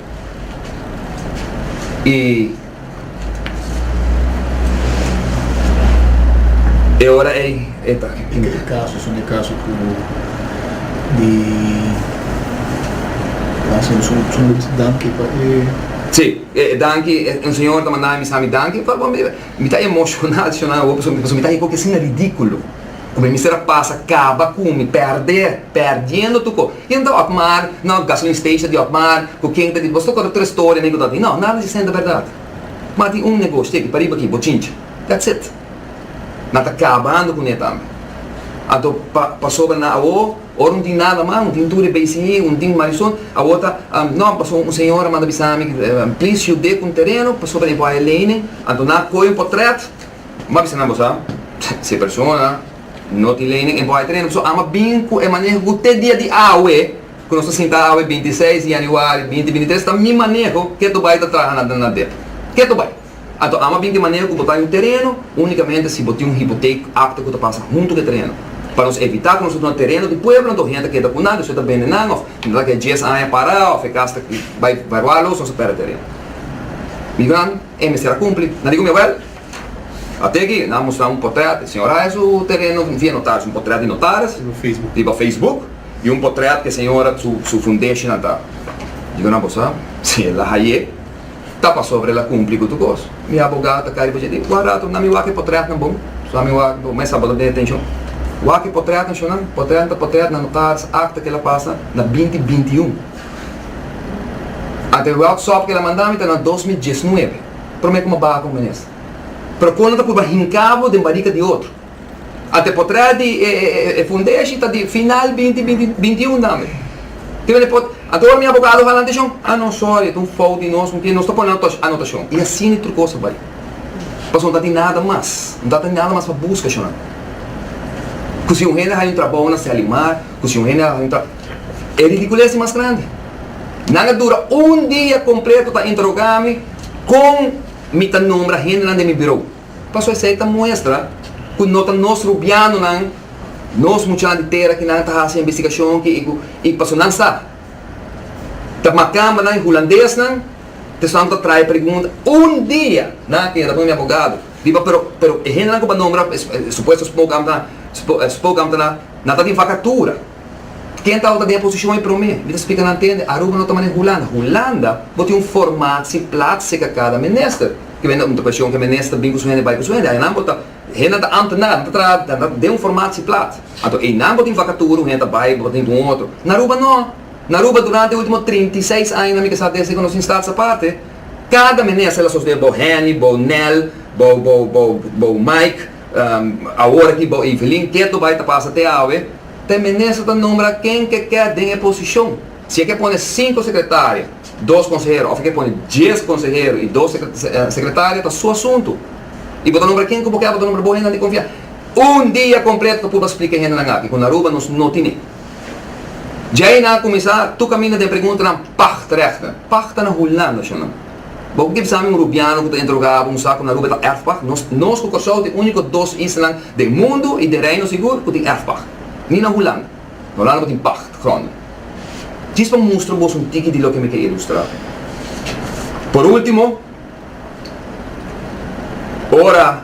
I. E ora ei e ta. E ta e kaso, son e kaso ku di Lansing su su mucha danki pa e. Sí, eh, danki, eh, un señor ta mandá mi sa mi danki, pa, pa, mi ta emocioná, ta shonando, pasobra mi ta hiko que asina ridículo. Ku mi mester a pasa kaba ku mi pèrdè, pèrdiendo tu ko. I enta Otmar, no, gasolin station di Otmar, ku ken ta di bo sto konta tres story amigo do di no, nada di sesenta bèrdat. Mas tin un negoshi aki pariba aki bochinchi. That's it. Nan ta kabando kuné tambe. Anto pa pasobra nan awo ora no tin nada mas, no tin tur e BCI, no tin Marisol, awo ta no paso un señor a manda bisa mi please yude ku un tereno pasobra e bo haya lei mi. Anto nan a koyo un potrèt. Bo a bisa nan bo sa, si e persona no tin lei nen e bo a e trena so ama bin ku e maneho ku te dia di awe ku nos ta sinta awe binti i seis di yaniwari binti binti i tres ta mi maneho ke tu bai ta traha na na det ke tu bai anto ama bin te maneho ku bo ta yu tereno unikamente si bo tin un hipotek akta ku ta pasa huntu ku e tereno pa nos evita ku nos ta duna tereno di pueblo anto hende ta keda ku nan despues ta bende nan òf no ta ke dies aña para òf e kas ta bai valuá los nos ta pèrdè tereno. E mester a cumpli. Nan di cu mi abuel, Ate aki nan a mustra un portret di señor Reyes cu tene nos via notaris, un portret di notaris riba Facebook y un portret cu e señora su fundation a ta. Dico nan, Bo sa, si el a haye ta pasobra el a cumpli cu tur cos. Mi abogado ta cay riba dje y di, Wak rato nan mi wak e portretnan bon, so mi wak, bo mester a bota den e atencion. Wak e portretnan, shownan, portretnan ta portret na notaris, acta, kila pasa na binti binti y un. Ante e World Sop keda manda mi ta na dos mil dies nuebe, prome kuma baha ku minister. Pero kon lo ta purba hinka bo den barika di otro? Ante potrè di e fundeshi ta di final binti binti binti i un tambe. Tin mende pot, ante ora mi abogado hala anteshon, ah no sorry e ta un fout di nos, pasobra nos ta pone anotash anotashon. I asin e trucos ta bai. Pasobra no ta tin nada mas. No ta tin nada mas pa buska, shonante. Ku si un hende a haña un trabou na Selimar, ku si un hende a haña un tra. E ridicules di mas grandi. Nan a dura un dia completo ta interroga mi con mi ta nombra hendenan den mi bureau. Paso esey ta muestra cu no ta nos rubianonan, nos muchanan di tera ki nan ta haci investigacion ki y paso nan sa ta macambanan y hulandesnan ta esnan ta trae pregunta. Un dia nan a keda con mi abogado riba pero pero e hendenan cu bo a nombra supuesto spokesambtenan nan ta den vacatura. Ken ta awor den e posishon ei promé? Mi ta splika nan tende, Aruba no ta manera Hulanda. Hulanda bo tin un formatsi plat seka kada minister. Ke bende un preshon ke minister bin ku su hende bai ku su hende. Einan bo ta, hendenan ta amtenar, nan ta traha nan ta den un formatsi plat. Anto einan bo tin vakatura, un hende ta bai, bo tin ku un otro. Na Aruba no. Na Aruba durante e ultimo trinta i seis aña nan mi kasa desde ku nos tin stats aparte, kada minister el a sosodé bo Henny, bo Nel, bo bo bo bo Mike, awor aki bo Evelyn, keto bai ta pasa te awe. Te minister ta nombra ken ke kè den e posishon. Si e ke pone sinku sekretario, dos konsehero òf e ke pone dies konsehero i dos sekretario ta su asuntu. I bo ta nombra ken ku bo kè, bo ta nombra bo hendenan di konfia. Un dia kompleto ta purba splika e hendenan aki ku na Aruba nos no tine. Djei nan a kuminsá tu kaminda den preguntanan pagd regta. Pagd ta na Hulanda, shonnan. Bo kip sabi un rubiano ku ta interogá un sa ku na Aruba ta erfpag? Nos nos ku Kòrsou tin úniko dos islanan den mundu i den Reino sigur ku tin erfpag. Ni na Hulanda. Na Hulanda bo tin pag grònde. Djis pa mustra boso un tiki di loke mi ke ilustrá. Por último, ora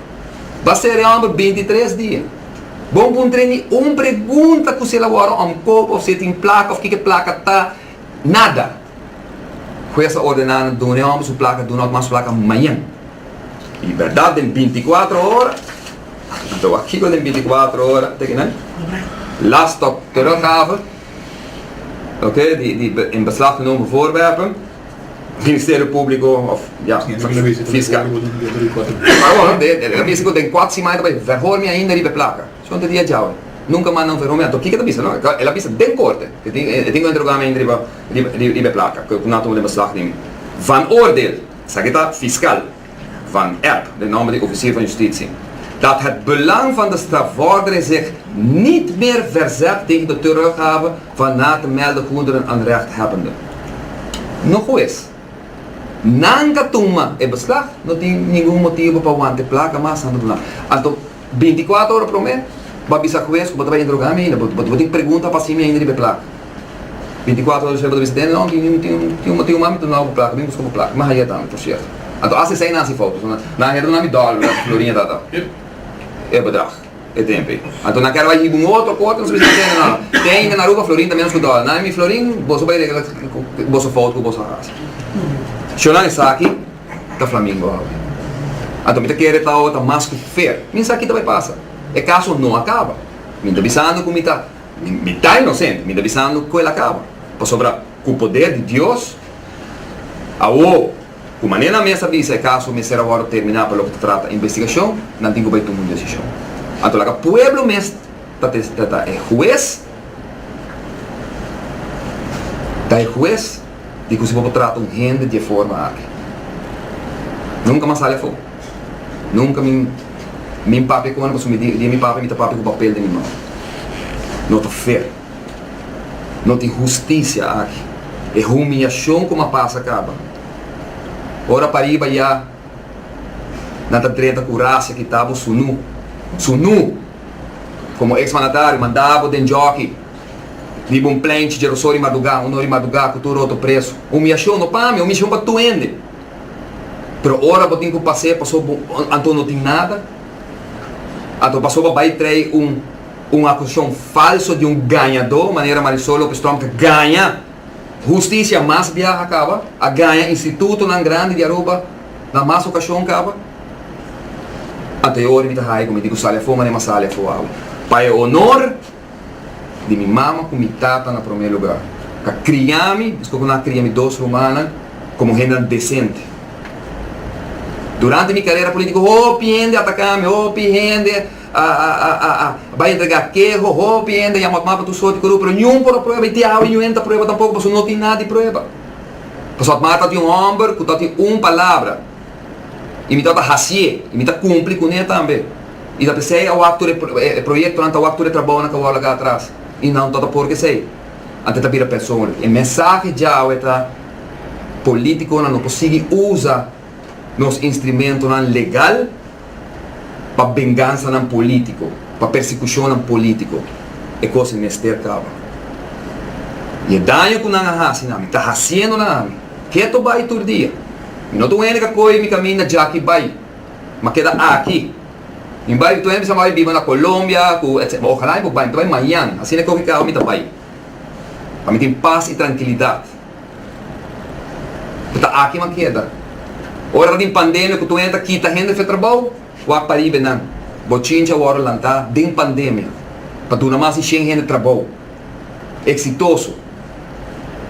Ba sere òmber binti tres dia. Bon por ntre mi un pregunta ku si el a wòrdu òmkope òf si e tin plaka òf kiko e plaka ta. Nada. Hues a ordená nan duna e òmber su plaka, duna òt mas plaka mañan. I bèrdat den binti kuatro ora, anto wak kiko den binti kuatro ora, teken nan? Las tòk teruggaven, oké, di di in beslag genomen voorwerpen. Ministerio Públiko òf ja, Fiskal. Paron, e ta bisa ku den kuater siman e ta bai vèhòr mi ainda riba e plaka. Shon ta di adjau, Nunka mas nan vèhò mi. Anto kiko e ta bisa? No, el a bisa den korte ku e tin e tin ku enterogá mi ainda riba riba e plaka, ku nan tuma den beslag di mi. Van Oordeel, esaki ta Fiskal. Van Epp, den nòmber di ofisier van Justitie, dat het belang van de strafvordering zich niet meer verzet tegen de teruggave van na te melden goederen aan rechthebbenden. No hues, nan ka tuma e beslag, no tin ningun motibo pa wante plaka mas na tribunal. Anto, binti kuater ora promé, bo a bisa hues ku bo ta bai interogá mi ainda, bo tin pregunta pa hasi mi ainda riba e plaka. Binticuatro ora Sherba ta bisa den long y tin un tin un mami ta duna bo plaka, bin buska bo plaka, mas ayeta mi por cierto. Anto asi esei nan si fout, pasobra nan a hera duna mi dollar bra Florinha ta ta e bedrag e tempo ei. Anto nan a kere bai hiba un otro corte, nan a bisa tende no, ten yinga na Aruba Florin ta menos ku dollar. Nan a mi Florin boso bai regla boso fout ku boso a hasi. Sho nan esaki ta Flamingo awe. Anto mi ta kere ta awe ta mas ku fair. Mi sa ki ta bai pasa. E kaso no a kaba. Mi ta bisando ku mi ta. Mi ta inosente, mi ta bisando ku el a kaba. Pasobra ku poder di Dios, awo ku manera nan mes a bisa e kaso mester a wòrdu terminá pa loke ta trata investigashon, nan tin ku bai tuma un desishon. Anto laga pueblo mes ta e hues, ta e hues. di cu si bo por trata un hende di e forma aki. Nunca mas sali afo. Nunca mi mi papia cu anda pasobra di e mi papia mi ta papia cu papel den mi man. No ta fair. No tin husticia aki. E humiacion cu mi a pasa caba. Ora pariba ya nan ta drenta cu racia kitabo su nu, su nu! Como ex mandatario mandabo den jockey. Riba un plenchi dje rosó di madugá, un or di madugá ku tur otro preso. Humiashon no pa mi, humiashon pa tur hende. Pero ora bo tin ku pas'é pasobra bo anto no tin nada, anto pasobra bai trei un un akusashon falso di un gañadó, manera Marisol López Storm ta gaña hustisia mas biaha kaba, a gaña institutonan grandi di Aruba na mas okashon kaba, anto e ora di mi ta ha'i ku mi di ku sali afó manera mi a sali afó awe. Pa e honor. Di mi mama ku mi tata na promé lugá. A kria mi, despues ku nan a kria mi dos rumannan, komo hendenan desente. Durante mi karera polítiko hopi hende a ataká mi, hopi hende a bai entregá keho, hopi hende a yama Otmar pa tur sort di korupto, pero niun por a prueba i te awe niun hende ta prueba tampoko pasobra no tin nada di prueba. Pasobra Otmar tabata un hòmber ku tabata tin un palabra i mi tabata hasié i mi ta kumpli kuné tambe. I ta p'esei a wak tur e proyektonan, ta wak tur e trabounan ku a wou laga atras. I nan tabata por ku esei. Anto e ta bira personlik. E mensahe djawe ta, Polítikonan no por sigui usa nos instrumentonan legal pa bengansanan polítiko, pa persekushonnan polítiko. E kos mester kaba. I e daño ku nan a hasi na mi, ta hasiendo na ami. Keto bai tur dia. Mi no ta un hende ku a kohe mi kaminda djaki bai. ma keda aki. Mi bai toey mi sa bai biba na Colombia cu etc. Ma ojalá mi por bai toey mañan. Asina e coge carro mi ta bai. Pa mi tin paz y tranquilidad. Cu ta aki mi a keda. Ora ta tin pandemia cu toey ta kita hende fe trabao, wak pa riba e nan. Bochinchi a wordo lanta den pandemia pa duna mas di shen hende trabao. Exitoso.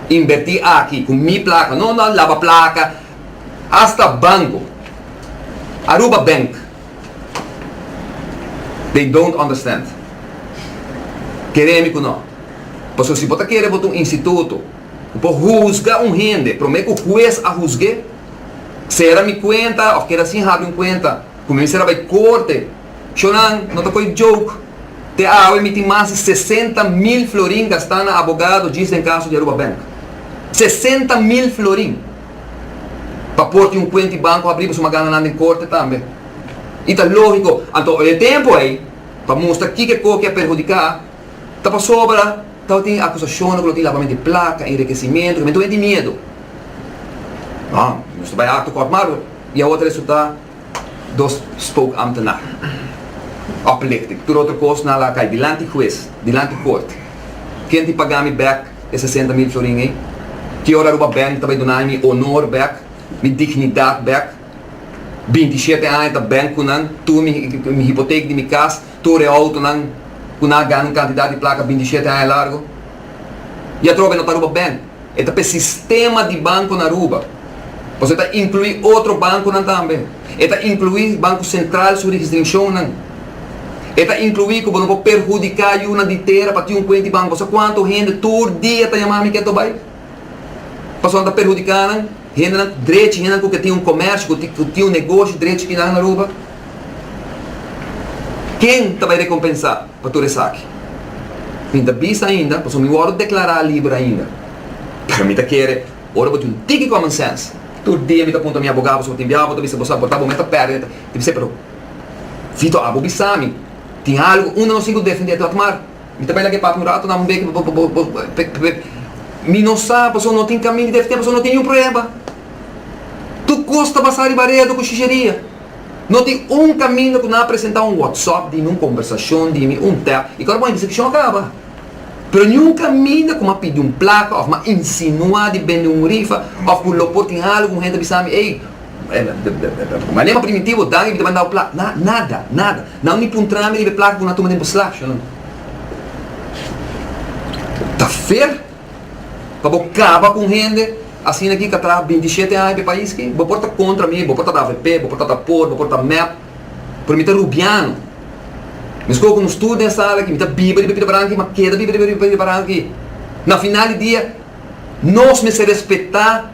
Inverti aki cu mi placa. No, no, laba placa. Hasta banco, Aruba Bank, they don't understand. Kere mi ku no. Paso si bo ta kere bo ta un instituto ku por huzga un hende prome ku hues a huzg'e, sera mi kuenta of keda sin habi un kuenta ku mi mester a bai korte, Shonan, no ta koe joke. Te awe mi tin mas di sesenta mil florin gastá na abogado djis den kaso di Aruba Bank. Sesenta mil florin! Pa por tin un kuent di banko habrí pasobra mi a gana nan den korte tambe. I ta lógiko. Anto oye tempu ei pa mustra kiko e koe ke a perhudiká ta pasobra tabatin akusashonnan ku lo tin labamentu di plaka, enrikesimentu, ke mentu a hende tin miedu. Nos ta bai akto kort marko i awor ta resultá. dos spoke ambtenaar oplichting tur otro kos nan la kai dilanti hues dilanti kort ken tin paga mi bek e sesenta mil florin ei ki ora aruba beng ta bai duna mi honor bek mi dignidad bek binti y shete aña ta beng ku nan tur mi hipotec di mi kas tur e auto nan ku nan a gana un cantidad di placa binti y shete aña largo y atrobe no ta aruba beng. E ta p'e sistema di banku na Aruba, pasobra e ta inkluí otro bankunan tambe. E ta inkluí Banku Sentral su rigistrishonnan. E ta inkluí ku bo no por perhudiká yunan di tera pa tin un kuent di banku. Bo sa kuantu hende tur dia ta yamá mi ke ta bai? Pasobra nan ta perhudiká nan hendenan drechi, hendenan ku ke tin un komèrsio, ku ke tin un negoshi drechi ki nan na Aruba. Ken ta bai rekompensá? pa tur esaki. Mi ta bisa ainda pasobra mi wòrdu deklará liber ainda. Pero mi ta kere ora bo tin un tiki common sense. Tur dia mi ta punta mi abogá pasobra tin bia abo ta bisa bo sa bo ta bo meta pèrdida ta ta bisa pero Vito abo bisa mi tin algu unda nos tin ku defendé plat mar mi ta bai laga e papia un ratu dam un beki pa bo bo bo mi no sa pasobra no tin kaminda di defendé pasobra no tin niun prueba tur kos ta basá riba redu ku shisheria. No tin un kaminda ku nan a presentá un wòtsòp di mi, un kombersashon di mi, un tèp, i kòrda bo a bisa ki shon a kaba. Pero niun kaminda ku mi a pidi un plaka òf mi a insinuá di bende un rifa òf ku lo por tin algu un hende a bisa mi, ey, bo a lembra Primitivo, Dani bi ta bandá bo plaka. Na, nada, nada. Nan no ni puntrá mi riba e plaka ku nan a tuma den Boslash. Ta fair. Pa bo kaba ku un hende asina ki ka traha bintisiete aña p'e pais ki, bo por ta kontra mi, bo por ta avp, bo por ta tapor, bo por ta mep, pero mi ta rubiano. Mescor ku nos tur den e sala aki, mi ta biba riba Pidebaran aki, m'a keda biba riba Pidebaran aki. Na final di dia, nos mester respetá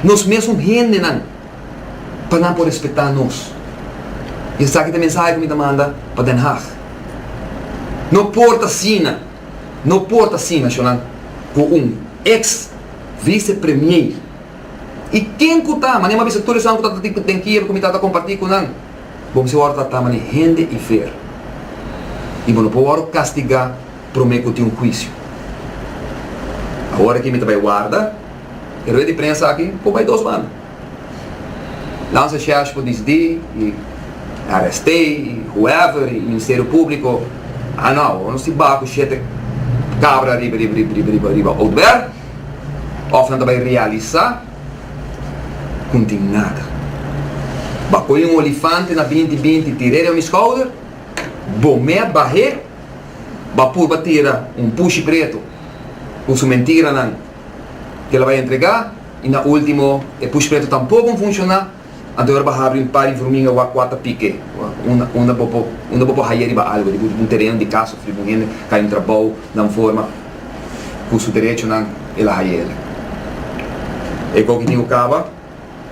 nos mesun hendenan pa nan por respetá nos. I esaki ta e mensahe ku mi ta manda pa Den Haag. No por t'asina. No por ta asina, Ashonan, ku un eks vise premiei. I ken ku ta? Mané, m'a bisa tur esanan ku ta di den kier ku mi tata kompartí ku nan. Bo mester wòrdu tratá mané hende i ver. I bo no por wòrdu kastigá promé ku tin un huisio. Awor aki mi ta bai warda e rueda di prensa aki por bai dos banda. Lansa shash ku disdi i arest'é i whoever i Ministerio Públiko a no awo nos ti baha ku shete kabra riba riba riba Oudberg òf nan ta bai realisá ku n'tin nada. Ba kohe un olifante na binti binti tir'é riba mi skouder, bo mé a bah'é, ba purba tira un pushi pretu ku su mentiranan kela bai entregá, I na ultimo e push preto tampoco un funciona, anto yora bo a habri un par informinga wak wak ta pike, unda bo por unda bo por haya riba algo, riba un tereno di casa of riba un hende ka entra bou nan forma cu su derechonan el a haya el. E gou ki tin cu caba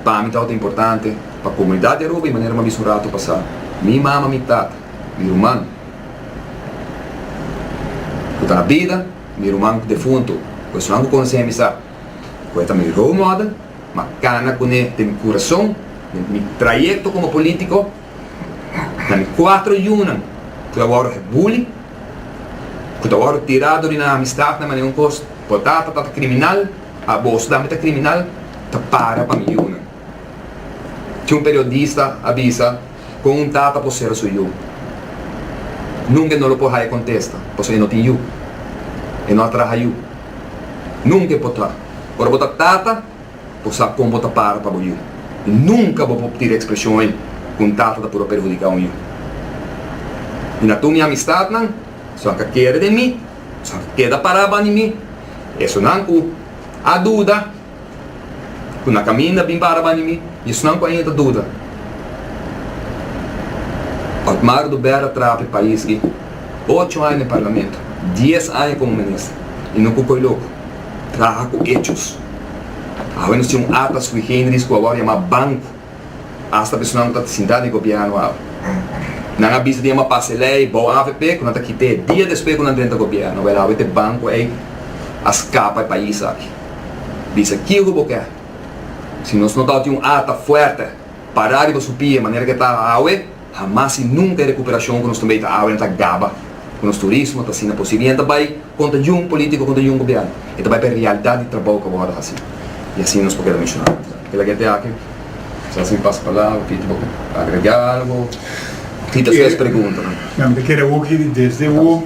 pa mi tawata importante pa comunidad di Aruba y manera como a bisa un rato pasa mi mama, mi tata, mi ruman cu ta na bida, mi ruman defunto cu esunnan cu conocenan mi sa. ku e ta mi role model, m'a kana kuné den mi kurason, den mi trayekto komo polítiko, na mi kuater yunan ku ta wòrdu buli, ku ta wòrdu tirá dor di nan amistatnan manera un kos, bo tata ta kriminal, abo su dame ta kriminal, ta para pa mi yunan. Cu un periodista a bisa con un tata por cera su yu. Nunca e no lo por haya contesta pasobra e no tin yu. E no a traha yu. Nunca e por ta. Ora bo ta tata bo sa con bo ta para pa bo yu. Y nunca bo por tira e expresion ey cu un tata ta puru perhudica un yu. Y na tur mi amistadnan su a ka kere den mi, su a ka keda para bani mi, esonan cu a duda. ku na kaminda bin para bani mi, i esnan ku ainda ta duda. Otmar Dubera trapa e pais di ocho aña na e parlamento, dies aña komo minister, i no ku koe loku, traha ku echos. Awe nos tin un ata sui generis ku a wòrdu yamá banku. Asta personanan ku ta sinta na e gobièrnu awe. Nan a bisa di nan a pasa e lei bou avp ku nan ta kit'é dia despues ku nan drenta gobièrnu. Wèl awe te banku ei a skapa e pais aki. Bisa ki ku bo ke. Si nos no tabata un ata fuerte pará riba su pie manera ku e ta awe, Hamas i nunka e recuperashon cu nos ta bay ta awina ta gaba cu nos turismo ta asina posible. Yen ta bay conta jun politico, conta jun gobierno. E ta bay pa e realdat di trabao cu a wordo haci. I asina nos por keda menciona nan ta. Kila gente aki ta haci un pasapalabra. Piti bo kier agrega algo? Tita su es pregunta nan. Nan ta keda hopi di desde awo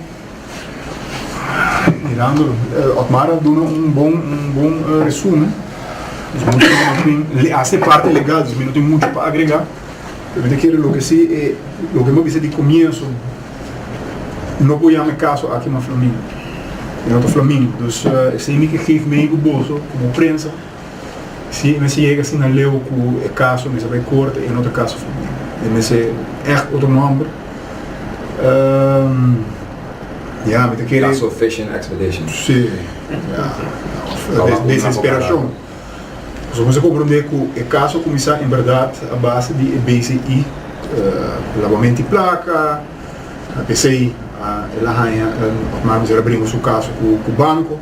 mirando. Otmar a duna un bon un bon resumen. Nos no tin, a si e parti legal, nos no tin mucho pa agrega. Lo mi ta kere lo ke si e lo ke mi a bisa di komienso, no por yama e kaso aki mas flamingo. E no ta flamingo. Dus esei mi ke geef mei ku boso komo prensa. Si e mester yega asina leu ku e kaso mester bai korte, e no ta kaso flamingo. E mester ègt otro nòmber. Ya, mi ta kere. Kaso Fishing Expedition. Si, ya. Òf desesperashon. Nos a komprendé ku e kaso a kuminsá en bèrdat a base di e BCI, labamento di plaka, p'esei el a haña, òf mester a bringa su kaso ku banko,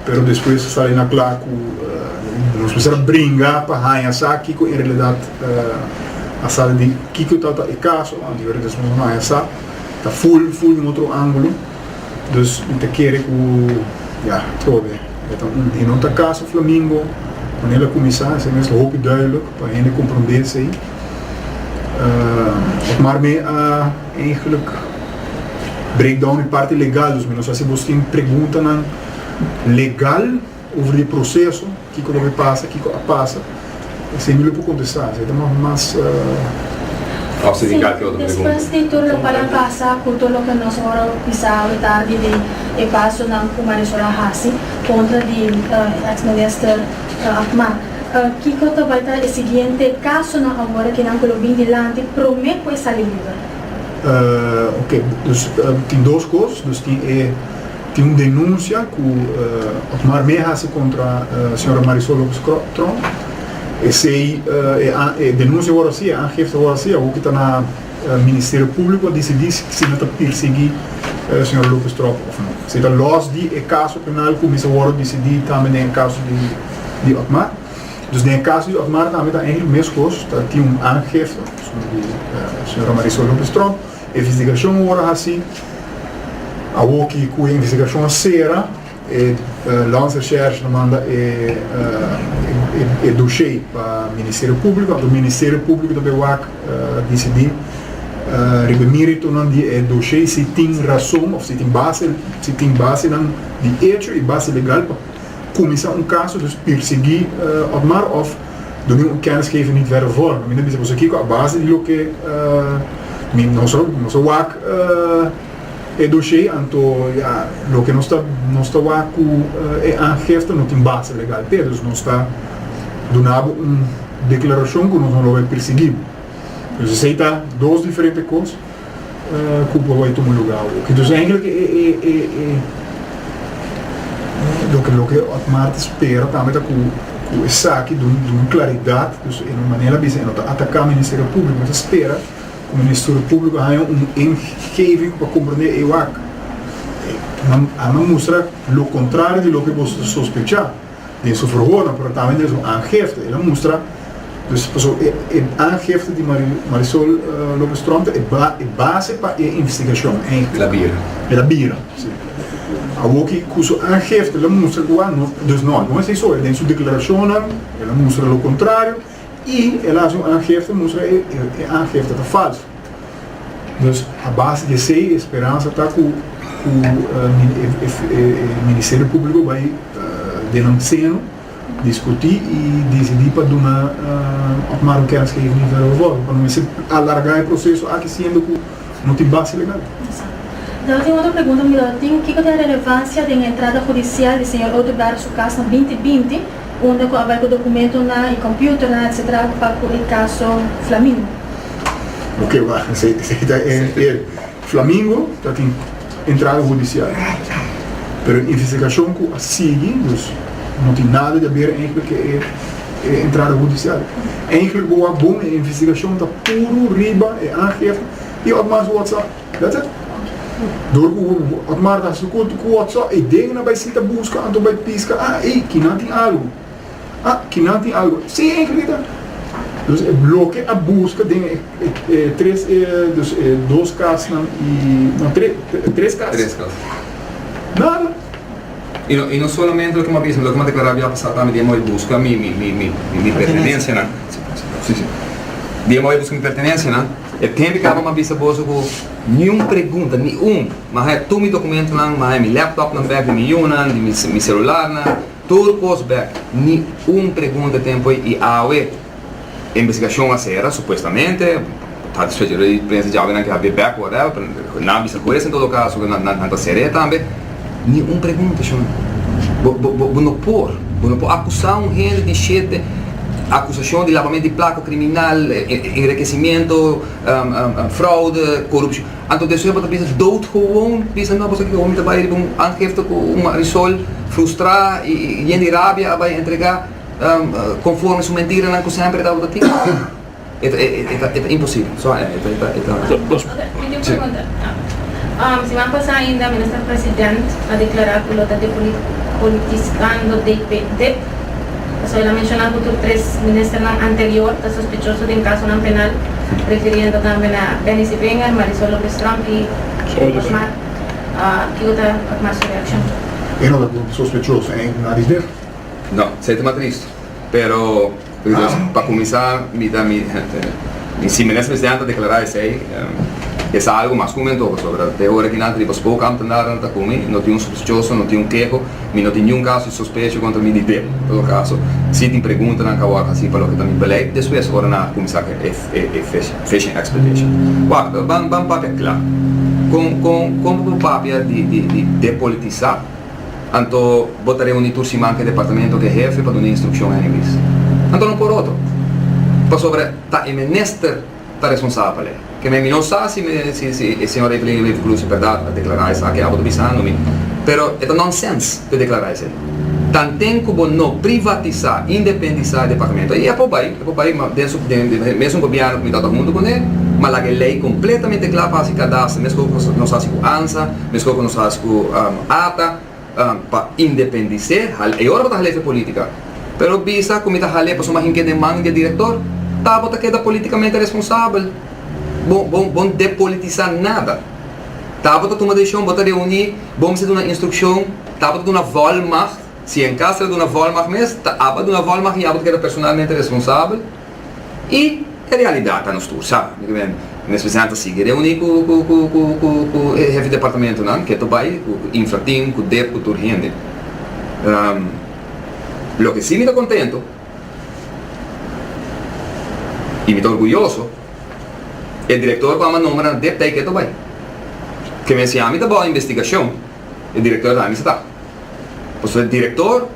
pero despues a sali na kla ku nos mester a bringa pa haña sa kiko en realidat a sali di kiko tabata e kaso, anto yòrda despues nos haña sa ta ful ful den otro ángulo. Dus mi ta kere ku ya, probe. E ta un i no ta kaso Flamingo kuen el a kuminsá, esei mester hopi duidelijk pa hende komprondé esei. Uh, maar mi a eigenlijk breakdown e parti legal, dus mi nos hasi boskin preguntanan legal, Over di proceso, kiko lo ke pasa, kiko a pasa, esei mi lo por contesta, esei ta mas mas falsifica ke otro pregunta. Si, despues di tur loke a pasa cu tur loke nos ora bisa awe tardi di e pasonan cu Marisol a haci contra di ex minister Achmah, kiko ta bai ta e siguiente casonan awor kinan cu lo bin dilanti prome cu e sali liber? Oke, dus tin dos cos, dus tin e. Tin un denunsia ku Otmar Mey hasi kontra señora Marisol Lopes Trom. Esei e denunsia wòrdu hasi, e aangifte wòrdu hasi, awor ku ta na Ministerio Públiko disidí si nan ta pirsiguí señora Lopes Trom òf no. Esei ta lòs di e kaso penal ku kumisa wòrdu disidí tambe den e kaso di Otmar. Dus den e kaso di Otmar tambe ta ègèlik meskos, ta tin un aangifte di señora Marisol Lopes Trom. Investigashon ora hasi. Awor ki ku e investigashon a sera, e Landsrecherche ta manda e doshé pa Ministerio Públiko, anto Ministerio Públiko ta bai wak disidí riba méritonan di e doshé si tin rason òf si tin base, si tin basenan di echo i base legal pa kuminsá un kaso, dus pirsiguí Otmar òf. Do mi un kennis geven niet werden vormen. Mi bisa boso kiko a base di lo ke mi no so no so wak e dossier anto ja lo ke no sta no sta wak ku e aangifte no tin base legal te dus no sta dunabo un deklarashon ku nos no lo bai persigí. Dus esei ta dos diferente kos. Cu por bay tuma lugar awo. Ki dus enkel ke e loke loke Otmar ta spera tambe ta cu cu esaki dun dun claridad. Dus e no manera bisa e no ta ataca Ministerio Publico. Mi ta spera cu Ministerio Publico haya un ingeving pa comprende e wak. Nan a mustra lo contrario di loke boso ta sospecha. den su verhoornan, pero tambe den su aangifte. El a mustra, dus paso e, e aangifte di Mari, Marisol uh, Lopez Tronte e, ba, e base pa e investigashon eigenlijk. La bira. El a bira, si. Awoki ku su aangifte el a mustra ku a, no, dus no, no es iso, den su deklarashonnan el a mustra lo kontrario. I el a hasi un aangifte, mustra e aangifte ta falsu. Dus a base di esei, e speransa ta ku Ministerio Públiko bai den nan seno, diskutí i disidí pa duna Marukens ke e nivel revoke, pa no mester alargá e proseso aki siendo ku No tin base legal. Dado tin otro pregunta mi dado tin kico ta e relevancia den e entrada judicial di señor Oduber su cas na binti binti unda cu a bay cu documentonan y computernan etc. Pa cu e caso Flamingo. Ok wacht esaki ta e Flamingo ta tin. entrada hudicial. Pero e investigacion cu a sigui, dus no tin nada di haber eigenlijk cu e e entrada hudicial. Eigenlijk bo a bon e investigacion ta puro riba e aangifte y Otmar su WhatsApp. That's it. Door cu Otmar ta haci su culto cu WhatsApp, e den na bay sita busca anto bay pisca, ah, ey, kinan tin algo. Ah, ki nan tin algo. Sí, eh, querida. Dus e bloke a busca den e, e, e tres, e, dus e dos casnan y, no, tre, tre, tres casas. Tres casas. Nada. Y no, y no solamente lo que me bisa, lo que me declara había pasado también, día me busca mi, mi, mi, mi, mi, mi pertenencia, nan. Sí, sí. Día me busca mi pertenencia, nan. E tempo que aba me bisa boso cu ni un pregunta, ni un. Ma hai tu mi documento, nan, ma hai mi laptop, nan, back di mi yunan, di mi, mi celular, nan. Tur kos bek, ni un pregunta tin poi i awe investigashon a sera, supuestamente, ta despues di rueda di prensa djawe nan ke a be bek whatever, pero nan a bisa ku es en todo kaso ke nan ta ser'é tambe, ni un pregunta shon. Bo bo bo no por, bo no por akusá un hende di shete, akusashon di labamento di plaka kriminal, enrekesimentu, fraude, korupshon. Anto despues bo ta bisa dout gewoon, bisa no boso kiko mi ta bai riba un aangifte ku un marisol frustrá i yen di rabia a bai entregá konforme su mentiranan ku semper e tabata tin? E ta imposibel. So e ta e ta So los Tin un pregunta. Siman pasá ainda Minister President a deklará ku lo ta depolitisikando DPD. Pasobra el a menshona ku tur tres ministernan anterior ta sospechoso den kasonan penal, refiriendo tambe na Benny Sibwinger, Marisol Lopez-Tromp i Hugo Bosmar. Kiko ta Pak Mar su reakshon? E no ta ku sospechoso e na Rijber? No, esei ta mas triste. Pero, pa kuminsá mi ta mi mi si minister presidente a deklará esei, e sa algu mas ku mi anto, pasobra te ora kinan ta riba Spokamp ta narda nan ta ku mi, no tin un sospechoso, no tin un keho. Mi no tin niun kaso di sospecho kontra mi di bel. Todo kaso, si tin preguntanan ka wòrdu hasi pa loke ta mi beleid despues ora nan a kuminsá ku e fishing expedition. Wak, ban ban papia kla. Kon kon kon bo ta papia di di di depolitisá? Anto bo ta reuní tur siman ku e departamento ku e hefe pa duna instrukshon hende ku bis? Anto no por otro? Pasobra ta e menester. ta responsabel. Keme mi no sa si e señor Evelyn Reeve Cruz berdad a declara esaki abo ta bisando mi, pero e ta nonsense pa e declara esei. Tanten cu bo no privatisa, independisa e departamento ei, e por bay, e por bay den su mesun gobierno cu mi tabata hunto con e, ma laga e ley completamente cla pa haci cadaster, mesco cu nos haci cu ansa, mesco cu nos haci cu ata. pa independis'é, hal e ora bo ta hal'é fe polítika, pero bisa ku mi ta hal'é pasobra mi hin kende man di e direktor, ta bo ta keda politikamente responsabel, bo bo no depolitisá nada, ta bo ta tuma desishon, bo ta reuní, bo mester duna instrukshon, ta bo ta duna volmagt, si en kas ta duna volmagt mes, ta aba duna volmagt i abo ta keda personalmente responsabel. I e realidat ta nos tur sa. Mes president ta sigui reuni ku e hefi departamentunan, ketu bai ku Infrateam, ku dep, ku tur hende. Loke si mi ta kontentu i mi ta orguyoso, e direktor ku a manda nombra na dep ta e ketu bai. Ke mes yami ta bou investigashon, e direktor ta hami seta. Pasobra e direktor.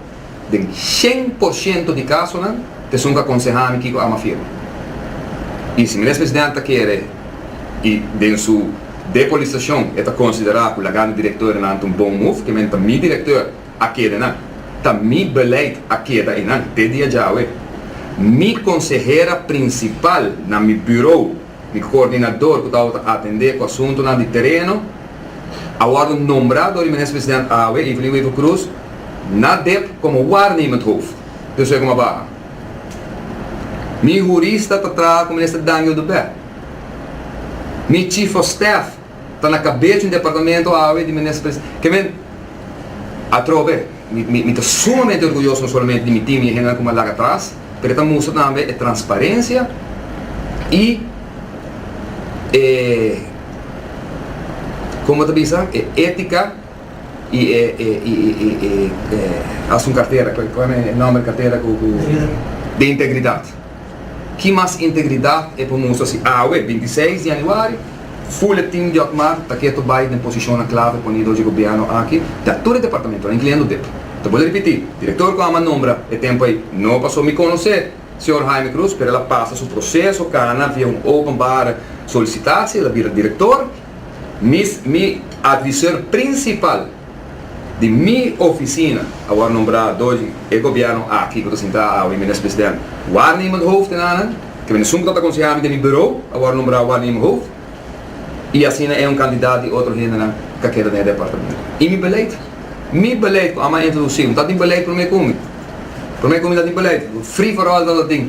Den shen por shento di kasonan, pesunko a konsehá mi kiko Ama firma. I si Minister Presidente ta kere i den su depolisashon e ta konsiderá ku lagando direktornan ta un bon move, ke men ta mi direktor a keda nan, ta mi beleid a keda einan te dia djawe. Mi konsehera prinsipal na mi buro, Di koordinador ku tabata atendé ku asuntunan di tereno a wòrdu nombrá dor di Minister President Awe, Evelyn Wever Croes, na dep komo waarnemend hoofd. Pues esei komo a baha. Mi hurista ta traha ku Minister Daniel de Bèt. Mi Chief of Staff. ta na kabes di un departamento awe di Minister Presidente. Ke men atrobe mi ta sumamente orguyoso no solamente di mi team y e hendenan ku mi a laga atras, pero e ta mustra tambe e transparencia y e como ta bisa e etica y e asun cartera, cual e nomber di cartera cu, de integridad. Ki mas integridat e por mustra si awe, binti i seis di yanüari, Fule Tim Diokmar ta keto bai den posishonnan klave ponido dor dje gobièrnu aki ta tur e departamentonan, inkluyendo dep. Ta bole ripití, direktor ku Aman nombra e tempu ei no pasó mi konosé señor Jaime Cruz, pero el a pasa su proseso kana via un openbare solisitatie, el a bira direktor, mi advisor prinsipal. Di mi oficina a wòrdu nombrá doji e gobièrnu aki ku ta sintá awe, Minis President Waarnemend Hoofd en anan ku minisumpa ta ta konsehá mi den mi burou a wòrdu nombrá Waarnemend Hoofd i asina e un kandidat di otro hendenan ka keda den e departamento. I mi beleid, mi beleid ku Amma a introdusí, no ta tin beleid promé ku mi. Promé ku mi ta tin beleid, free for all ta ta tin.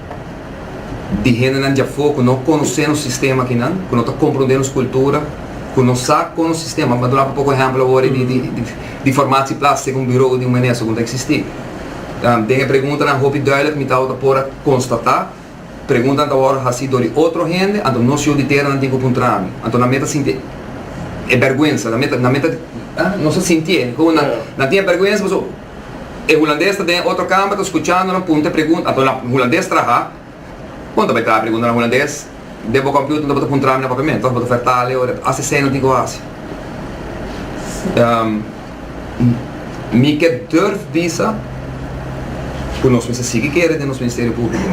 di hendenan di afó ku no konosé nos sistema akinan, ku no ta komprondé nos kultura, ku no sa kon nos sistema, mi ta duna bo poko ehèmpel awor di di di di formatie plaats seg un bureau di un minister ku no ta eksistí. Den e preguntanan hopi duidelijk mi ta wou ta por a konstatá, preguntanan ta wòrdu hasí dor di otro hende, anto nos yu di tera nan tin ku puntra ami, anto nan meta sintié e bèrgwensa, nan meta nan meta, ah, nos ta sintié komo nan tin e bèrgwensa pasobra. E hulandes ta den e otro kamber ta skuchandonan punta e pregunta. Anto na hulandes traha. Bo no ta bai traha pregunta na hulandes. Den bo kompiuter no bo ta puntra mi na papiamento òf bo ta fertale o hasi seña nan tin ku hasi. Mi ke durf bisa ku nos mester sigui kere den nos ministerio públiko.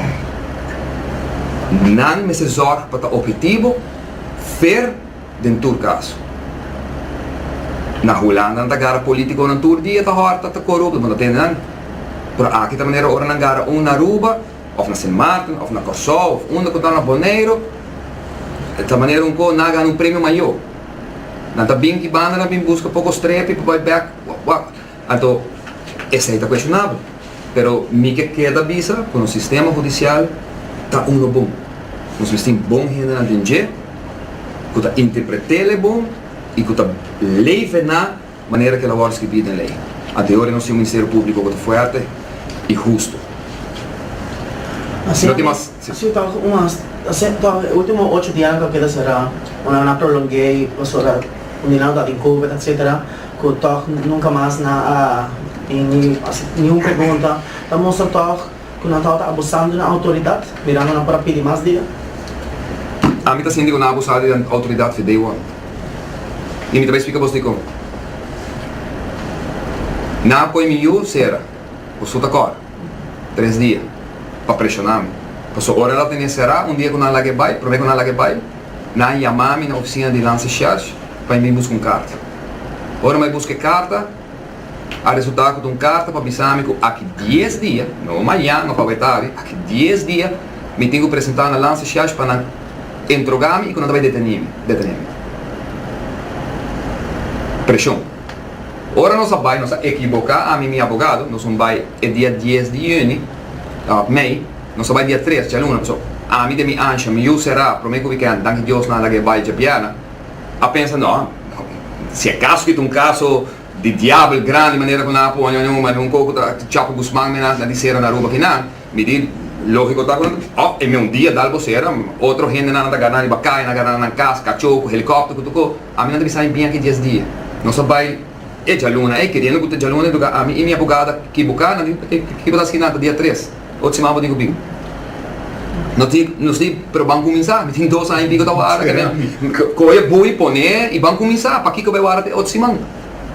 Nan mester zòrg pa ta obritivo, fer. Den tur kaso. Na Hulanda nan ta gara politiconan tur dia ta horta ta corupto bo no tende nan. Pero aki ta manera ora nan gara un na Aruba of na Sint Maarten of na Corsou of unda cu ta na Boneiro ta manera un co na gana un premio mayo. Nan ta bin ki bandanan bin busca poco strepi pa bay bek wak wak. Anto, esei ta kueshonabel. Pero mi ke keda bisa ku nos sistema hudisial ta unu bon. Nos mester bon hendenan den dje ku ta interpret'é lei bon i ku ta leve na manera ku el a wòrdu skribí den lei. Anto yori nos tin un Ministerio Públiko ku ta fuerte i hustu. Sesiun ta cu un hasta toa e ultimo ocho dia nan ta keda sera o nan a prolonge y pasobra cuminao ta den covid etc cu tog nunca mas nan a bin ni hasi ningun pregunta ta mustra tog cu nan tawata abusando di nan autoridad mirando nan por a pidi mas dia. Ami ta sinti cu nan a abusá di nan autoridad fi day one y mi ta bai splica bos dicon. Nan a poi mi yu sera, bo su ta cora. tres dia pa preshona mi. Paso ora el a tene sera un dia ku nan laga e bai, prome ku nan laga e bai, nan yama mi na ofisina di Lanse Shersh pa e bin buska un karta. Ora mi a buska e karta, a resulta ku ta un karta pa bisa mi ku aki dies dia, no mañan, no paweta awe, aki dies dia mi tin ku presenta na Lanse Shersh pa nan entroga mi i ku nan ta bai deteni mi, detene mi. Preshon. Ora nos a bai, nos a ekiboká. Ami, mi abogado, nos un bai e dia dies di yüni, mei, nos a bai dia tres, djaluna. Pasobra ami den mi ansha, mi yu será promé ku wikènt, danki Dios nan a laga e bai djabièrna. A pensa, No, si akaso ki ta un kaso di diabel grandi manera ku nan a pone, mi un kouku ta Chapo Guzman mi na di sera na Aruba kinan. Mi di, Lógiko ta hopi, òf e mi un dia dal bo sera, otro hendenan a ta gana riba kai, a na gana nan kas, kachó ku helikòpter ku tokó, ami no ta bisa mi bin aki dies dia. Nos a bai e djaluna ei, keriendo ku ta djaluna ei toka ami i mi abogada kiboká, nan di, Ki bo ta haskí nan ta dia tres, ocho siman bo tin ku bin? Nos di, Pero ban kuminsá, mi tin dos aña i piko ta wara ke nan kohe e bui, pon'é i ban kuminsá, pakiko bai wara te ocho siman?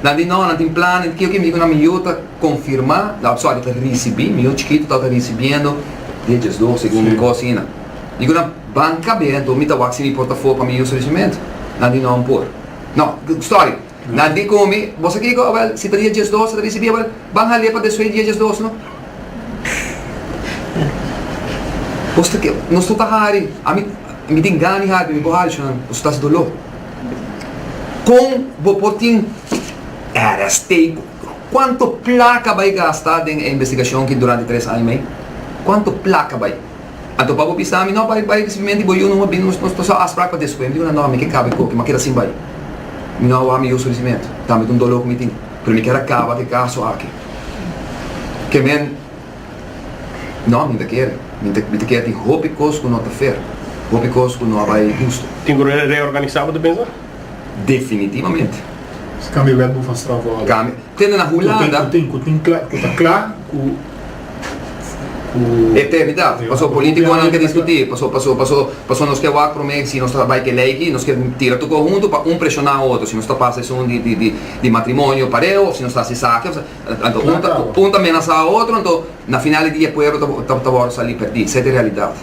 Nan di, Nò, nan tin plan, nan tin kio, kio, mi di ku nan mi yu ta. confirma la otro awe ta ricibi mi yo chikito ta ricibiendo diezhes do segun mi cos ina dico nan ban cabe anto mi ta wak sin mi portafo pa mi uso di cemento nan di no por no sorry nan di con mi bosa kico awel si ta diezhes do si ta ricibi awel ban hale pa desoe diezhes do no bo sta ke nos no ta hari ami mi tin gana di hari pero mi bo hari cho nan bo sta haci dolo con bo por tin era steiko Cuanto placa bay gasta den e investigacion aki durante tres aña mei? Cuanto placa bay? Anto pa bo bisa mi, no, bay, bay ricibimentu y bo yu no a bini, nos ta sa afspraak pa despues. Mi di una, no, mi ke caba e coki, ma keda sin bay. Mi no a wou mi usa ricibimentu, tambe ta un dolor cu mi tin, pero mi kier a caba cu e caso aki. Ke men, no, mi no ta kier, mi ta kier tin hopi cos cu no ta fair, hopi cos cu no a bay husto. Tin cu reorganisa, bo ta pensa? Definitivamente. Si cambia wet bo van straf wall. Cambia. Tende na Hulanda. Cu tin, cu tin, cu tin, cu ta cla cu, cu. Eternidad. Paso politiconan ke discuti, paso, paso, paso, paso nos ke wak prome si nos ta bay te ley aki, nos ke tira tucu huntu pa un presiona otro si nos ta pasa esun di, di, di, di matrimonio pareo of si nos ta haci esaki of si, anto un ta, un ta menasa otro anto. Na final di dia pueblo ta ta wòrdu salí pèrdí. Sey ta e realidat.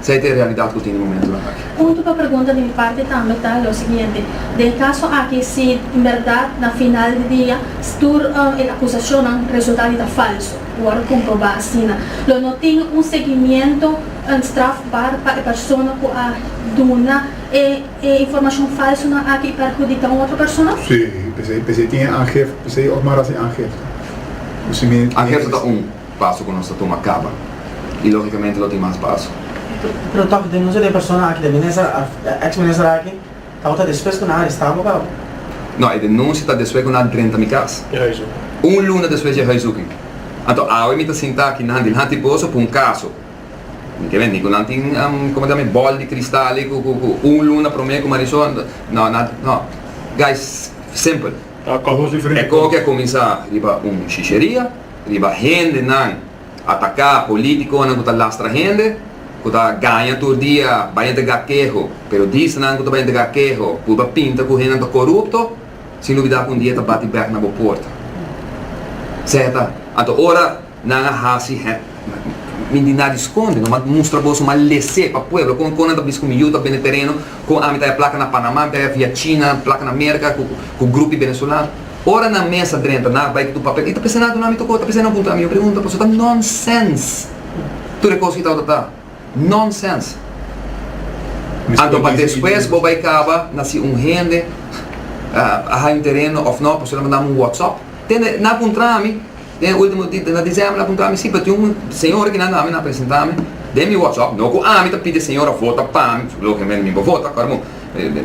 Sey ta e realidat ku tin di momentunan aki. Punto pa pregunta di mi parti tambe ta lo siguiente, den e kaso aki si en bèrdat na final di dia tur e akusashonnan resultá di ta falso, ku wòrdu komprobá asina, lo no tin un segimiento strafbar pa e persona ku a duna e. E informashon falsonan aki perhudika un otro persona? Sí, p'esei, p'esei tin e angel, p'esei òf mara sin angel ta. Ku simi. Angel so ta un paso ku nos ta tuma kaba, i lógikamente lo tin mas paso. Pero tòg denunsia di e persona aki, di e minister òf e ex minister aki, tòg ta despues ku nan a arestá bo kaba? No, e denunsia ta despues ku nan a drenta mi kas. E hais hopi. Un luna despues di e hais hopi. Anto awe mi ta sinta aki nan dilanti boso pa un kaso. Mi ke menti ku nan tin como se llama e bòl di kristal ei ku un luna promé ku Marisol no nan no guys simpel e koho ke a kuminsá riba un shisheria riba hendenan ataká politikonan ku ta lastra hende ku ta gaña tur dia bai a entrega keho pero disnan ku ta bai entrega keho pui ba pinta ku hendenan ta korupto sin lubidá ku un dia e ta bati bèk na bo porta sèt a anto ora. Nan a hasi hé mi di nadi skonde no m'a mustra boso m'a lesé pa pueblo kon kon nan ta bisa ku mi yu ta bende tereno kon ami ta haya plaka na Panamá mi ta haya via China plaka na Merka ku ku grupi benezolano ora nan mes a drenta nan a bai ku tur papel i ta p'esei nan a duna mi tokó ta p'esei nan a puntra mi un pregunta paso ta nonsens tur e kos ki ta ota ta nonsens anto pa despues bo bai kaba na si un hende a haya un tereno òf no paso nan mandami un wòtsòp tende nan a puntra mi. Den e ultimo di den na December a puntra mi si pa tin un señora ki na nami na presenta mi den mi WhatsApp no ku ami ta pidi señora vota pa mi logiamen mi bo vota kor bo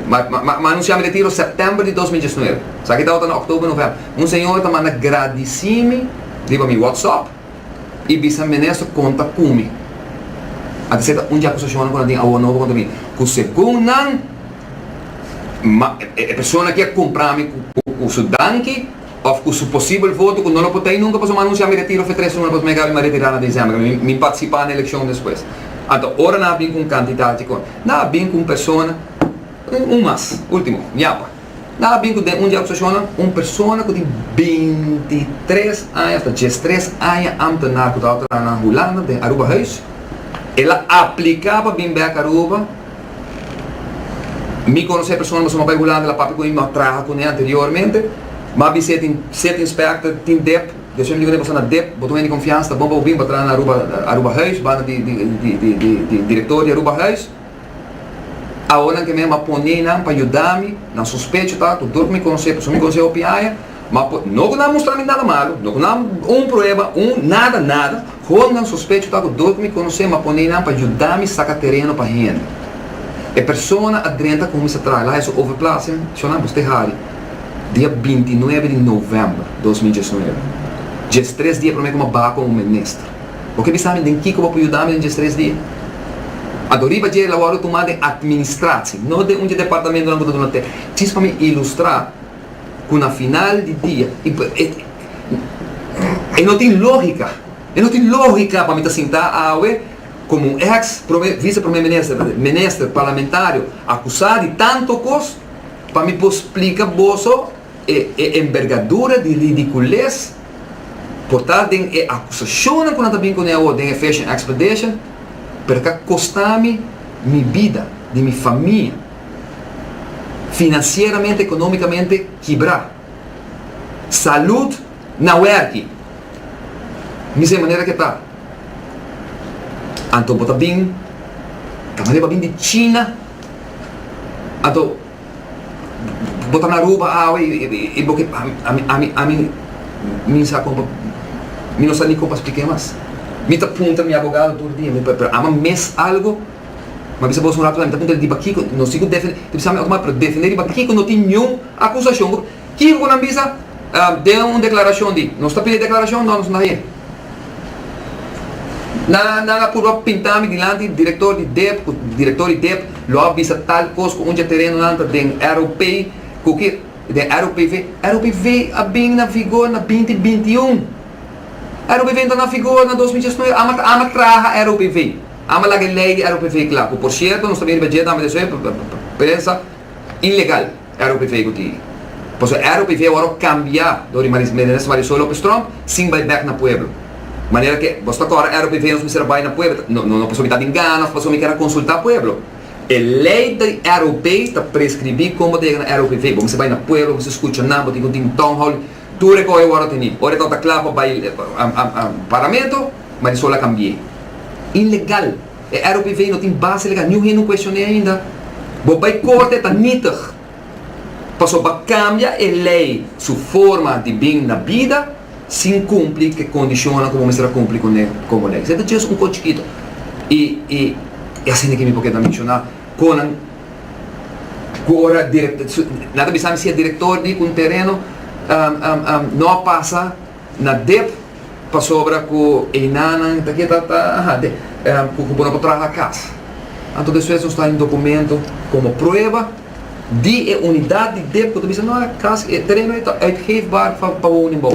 ma ma anunsia mi retiro September di dos mil diesnuebe sa kita ota na October November un señora ta manda gradisi mi riba mi WhatsApp i bisa mi menes ta konta ku mi a di seta un di akusashonnan ku nan tin awor nobo kontra mi ku segun nan ma e persona ki a kumpra mi ku su danki Of cu su posibel voto cu no lo por ta hay nunca pasobra mi a anuncia mi retiro fe tres luna pasobra mi a gaba mi a retira na diciember mi mi participa na eleccion despues anto ora nan a bin cu un cantidad chi con nan a bin cu un persona un un mas ultimo ñapa nan a bin cu den un di acusacionnan un persona cu tin binti tres aña asta dies tres aña ambtenaar cu tabata traha na Hulanda den Aruba huis ela aplica pa bin back Aruba. Mi conoce persona mas hopi Hulanda la papia cu mi ma traha cune anteriormente. Ma bi seti seti inspector tin dep. Di asina mi dico boso na dep, bo ta win di confiansa, ta bon pa bo bin pa traha na Aruba Aruba huis, banda di di di di di director di Aruba huis. Awo nan ke mi a pone nan pa yuda mi, nan sospecho ta, tur tur cu mi conoce, pasobra mi conoce hopi aña. Ma por, no ku nan a mustra mi nada malu, no ku nan a, un prueba, un, nada, nada, hor nan sospecho ta ku dor ku mi konosé mi a pone nan pa yuda mi saka tereno pa hende. E persona a drenta kon mi sa traha la e su overplaatsing shona bo stay hari dia binti nuebe di novèmber dos mil diesnuebe. Djes tres dia promé ku mi a baha kon un minister. Bo ke bisa mi den kiko bo a por yuda mi den djes tres dia? A dor riba dje la wòrdu tumá den administratie, no den un dje departamento nan ku ta duna te, djis pa mi ilustrá. cu na final di dia, y pa, e, e no tin logica, e no tin logica pa mi ta sinta awe como un ex prome, vice prome minister, minister, parlamentario acusa di tanto cos, pa mi por splica boso e, e envergadura di ridicules por ta den e acusacionnan cu nan ta bin cune awo den e Fishing Expedition, pero ca costa mi mi bida, di mi famia, finansieramente, economicamente kibra. Salud na werki. Mi sa e manera ke ta. Anto bo ta bin, ta manera bo a bin di China, anto bo ta na Aruba awe y bo ke ami mi sa con pa mi no sa ni con pa splica e mas. Mi ta puntra mi abogado tur dia, pero amo a mes algo. M'a bisa bos un ratu la mi ta puntra riba kiko no si ku defende, ta bisa mi otomatic, pero defende riba kiko no tin niun akusashon ku, kiko ku nan bisa den un deklarashon di nos ta pide deklarashon no nos no ta haña. Nan nan a purba pinta mi dilanti di direktor di dep ku direktor di dep lo a bisa tal kos ku un dje terenonan ta den ROP ku ke den ROPV, ROPV a bin na vigor na binti binti un, ROPV no ta na vigor na dos mil diesnuebe, amo amo a traha ROPV. Amba laga e lei di ROPV kla, ku por sierto nos ta bini pa dje tambe ta esoe prensa ilegal ROPV ku tiri. Pasobra ROPV awor a kambia dor di Maris Minister Marisol Lopez Tromp sin bai bek na pueblo. Manera ke bos ta kòrda ROPV nos mester a bai na pueblo no no pasobra mi ta bin gana òf pasobra mi kèr a konsultá pueblo. E lei di ROPV ta preskribí kon bo ta yega na ROPV. Bo mester bai na pueblo, bo mester skucha nan, bo tin ku tin town hall. Tur e koe wòrdu teni. Ora e tabata kla pa bai parlamento, Marisol a kambi'é. Inlegal! E ROPV no tin base legal. Niun hende no kuestion'é ainda. Bo bai korte e ta nitig. Pasobra bo a kambia e lei su forma di bin na bida sin kumpli ku e kondishonnan ku bo mester a kumpli kuné komo lei. Esei ta djes un kochikito. I e hasienda ke mi por keda menshoná kon nan. Ku ora nan ta bisa mi si e direktor di un tereno no a pasa na dep pasobra ku einanan ta ke ta ta ku bo no por traha kas. Anto despues nos ta haña un dokumento komo prueba di e unidat di dep ku ta bisa no e kas e tereno ei ta uitgeefbaar pa pa wou nen bou.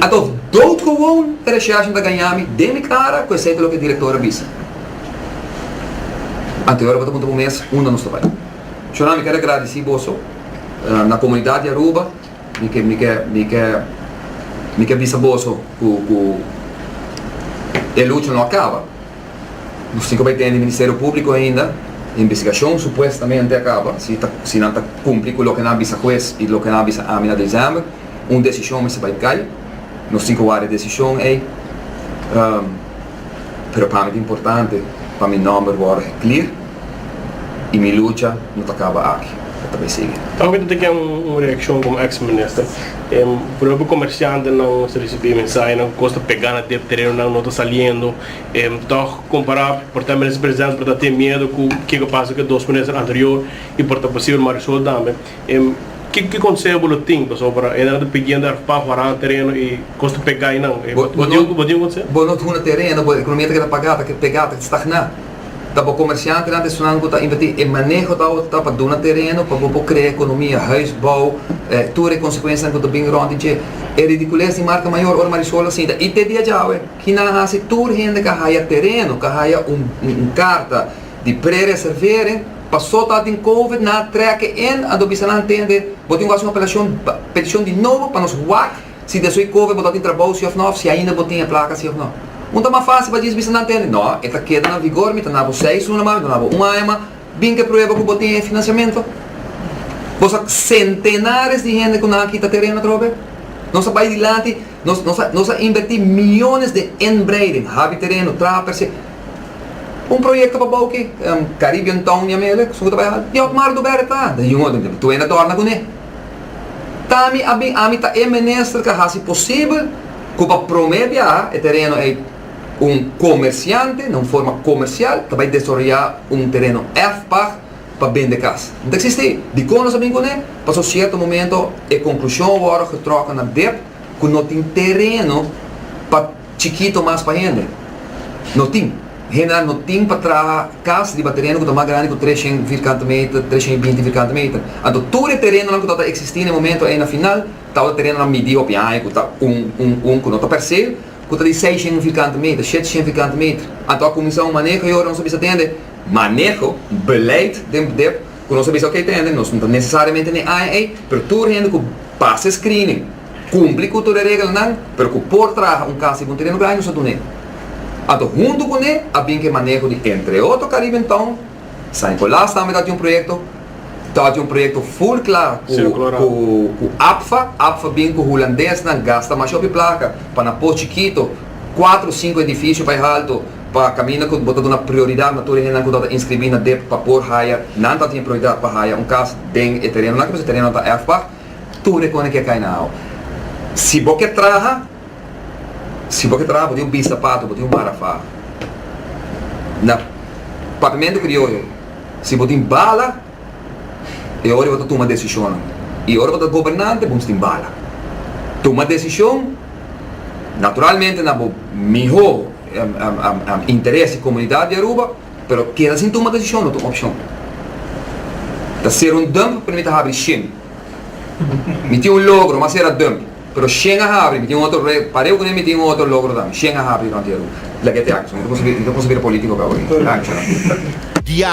Anto dout gewoon e rechèrsje ta gañami den mi kara ku esei ta loke e direktor a bisa. Ante ora bo ta puntra bo mes, unda nos ta bai? Shona, mi ke regradisí boso na komunidat di Aruba, mi ke mi ke mi ke mi ke bisa boso ku ku e lucha no a kaba. Nos tin ku bai tende Ministerio Públiko ainda, investigashon supuestamente a kaba, si ta si nan ta kumpli ku loke nan a bisa hues i loke nan a bisa ami na desèmber, un desishon mester bai kai, nos tin ku wak e desishon ei. pero pa mi ta importante pa mi nomber worde geklir y mi lucha no ta caba aki, el ta bay sigui. Tambe ta teken un reaccion como ex minister, propi comerciantenan ta ricibi mensahenan cu cos ta pega na dep, terenonan no ta saliendo, toch compara por ta minister presidente por ta tin miedo cu kico pasa cu e dos minister anterior y por ta posible Marisol tambe. Em, ki ki konseho bo lo tin pasobra e nan ta pidiendo er pa wara nan tereno i kos ta pegá einan? E bo bo tin bo tin un konseho? Bo no ta huna tereno, bo ekonomia ta keda pagá, ta pegá, ta stagná. Ta bo komershantenan ta esnan ku ta invertí. E maneho ta awor ta pa duna tereno pa bo por krea ekonomia, huisbou, e tur e konsekuensianan ku ta bin rònt di dje. E ridikules di marka mayor ora Marisol ta sinta. I te dia djawe ki nan a hasi tur hende ka haya tereno, ka haya un un karta di prereservering. Paso ta tin covid na treke en a do bisa nan tende bo tin wak un peticion di nobo pa nos wak si desui covid bo ta tin trabou si of no of si ainda bo tin e placa si of no. Un ta mas facil pa djis bisa nan tende no e ta keda na vigor mi ta nabo seis luna mas mi ta nabo un aña mas bin ke prueba cu bo tin e financiamento bo sa centenares di hende cu nan a kita tereno atrobe nos a bay dilanti Nos nos a nos a invertí miónes den inbreiding, habi tereno, traha per se. Un proyekto pa bou ki Caribbean Town di Amelia, ku su ta bai hal, di òf Marc Dubert e traha, den yungo den Tuwena a tòrna kuné. Ta mi a bin ami ta e minister ku a hasi posibel ku pa promé biaha e tereno ei un komersiante na un forma komersial ta bai desaroyá un tereno èf pag, pa bende kas. No ta eksistí. Dikon nos a bin kuné? Pas un sierto momento e konklushon a wòrdu getròke na dep ku no tin tereno pa chikito mas pa hende. No tin. Hendenan no tin pa traha kas riba tereno ku ta mas grandi ku tres shen vierkante meter, tres shen i binti vierkante meter. Anto tur e terenonan ku tabata eksistí na e momento ei na final tabata terenonan midí hopi aña ku ta un, un, un, ku no ta per se ku ta di seis shen vierkante meter, shete shen vierkante meter. Anto a kuminsá un maneho ayora nos a bisa tende. Maneho, beleid den bdep ku nos a bisa oke ta hende, nos no ta nesesariamente n'e aña ei, pero tur hende ku pasa e screening, kumpli ku tur e regelnan, pero ku por traha un kas riba un tereno grandi nos a dun'e. Anto huntu ku n'e a bin ku e maneho di entre otro Caribbean Town, San Nicolas tambe tabata un proyekto, tabata un proyekto full kla ku APFA, APFA bin ku hulandesnan gasta masha op e plaka pa na pos chikito kuatro sinku edifisio pa e haltu, Pa caminda cu bo ta duna prioridad na tur e hendenan cu ta ta inscribi na dep pa por haya, nan ta tin prioridad pa haya un cas den e terenonan cu nos e terenonan ta erfpag, tur e conen ke cay na ao. Si bo ke traha, si bo ke traha bo tin un bisapato, bo tin un mara fa. Na Papimento Crioyo, si bo tin bala, e ora e bo ta tuma decisionnan. Y ora bo ta gobernante, bo mester tin bala. Tuma decision, naturalmente na bo miho interes di komunidat di Aruba, pero keda sin tuma desishon no ta un opshon. Ta ser un dump pa mi ta habri shen. Mi tin un logro, mas era dump, pero shen a habri, mi tin un otro re, pare ku mi tin un otro logro tambe, shen a habri rònt di Aruba. Laga e te aki, so no ta konsabira polítiko akaba aki. Danki. Diario.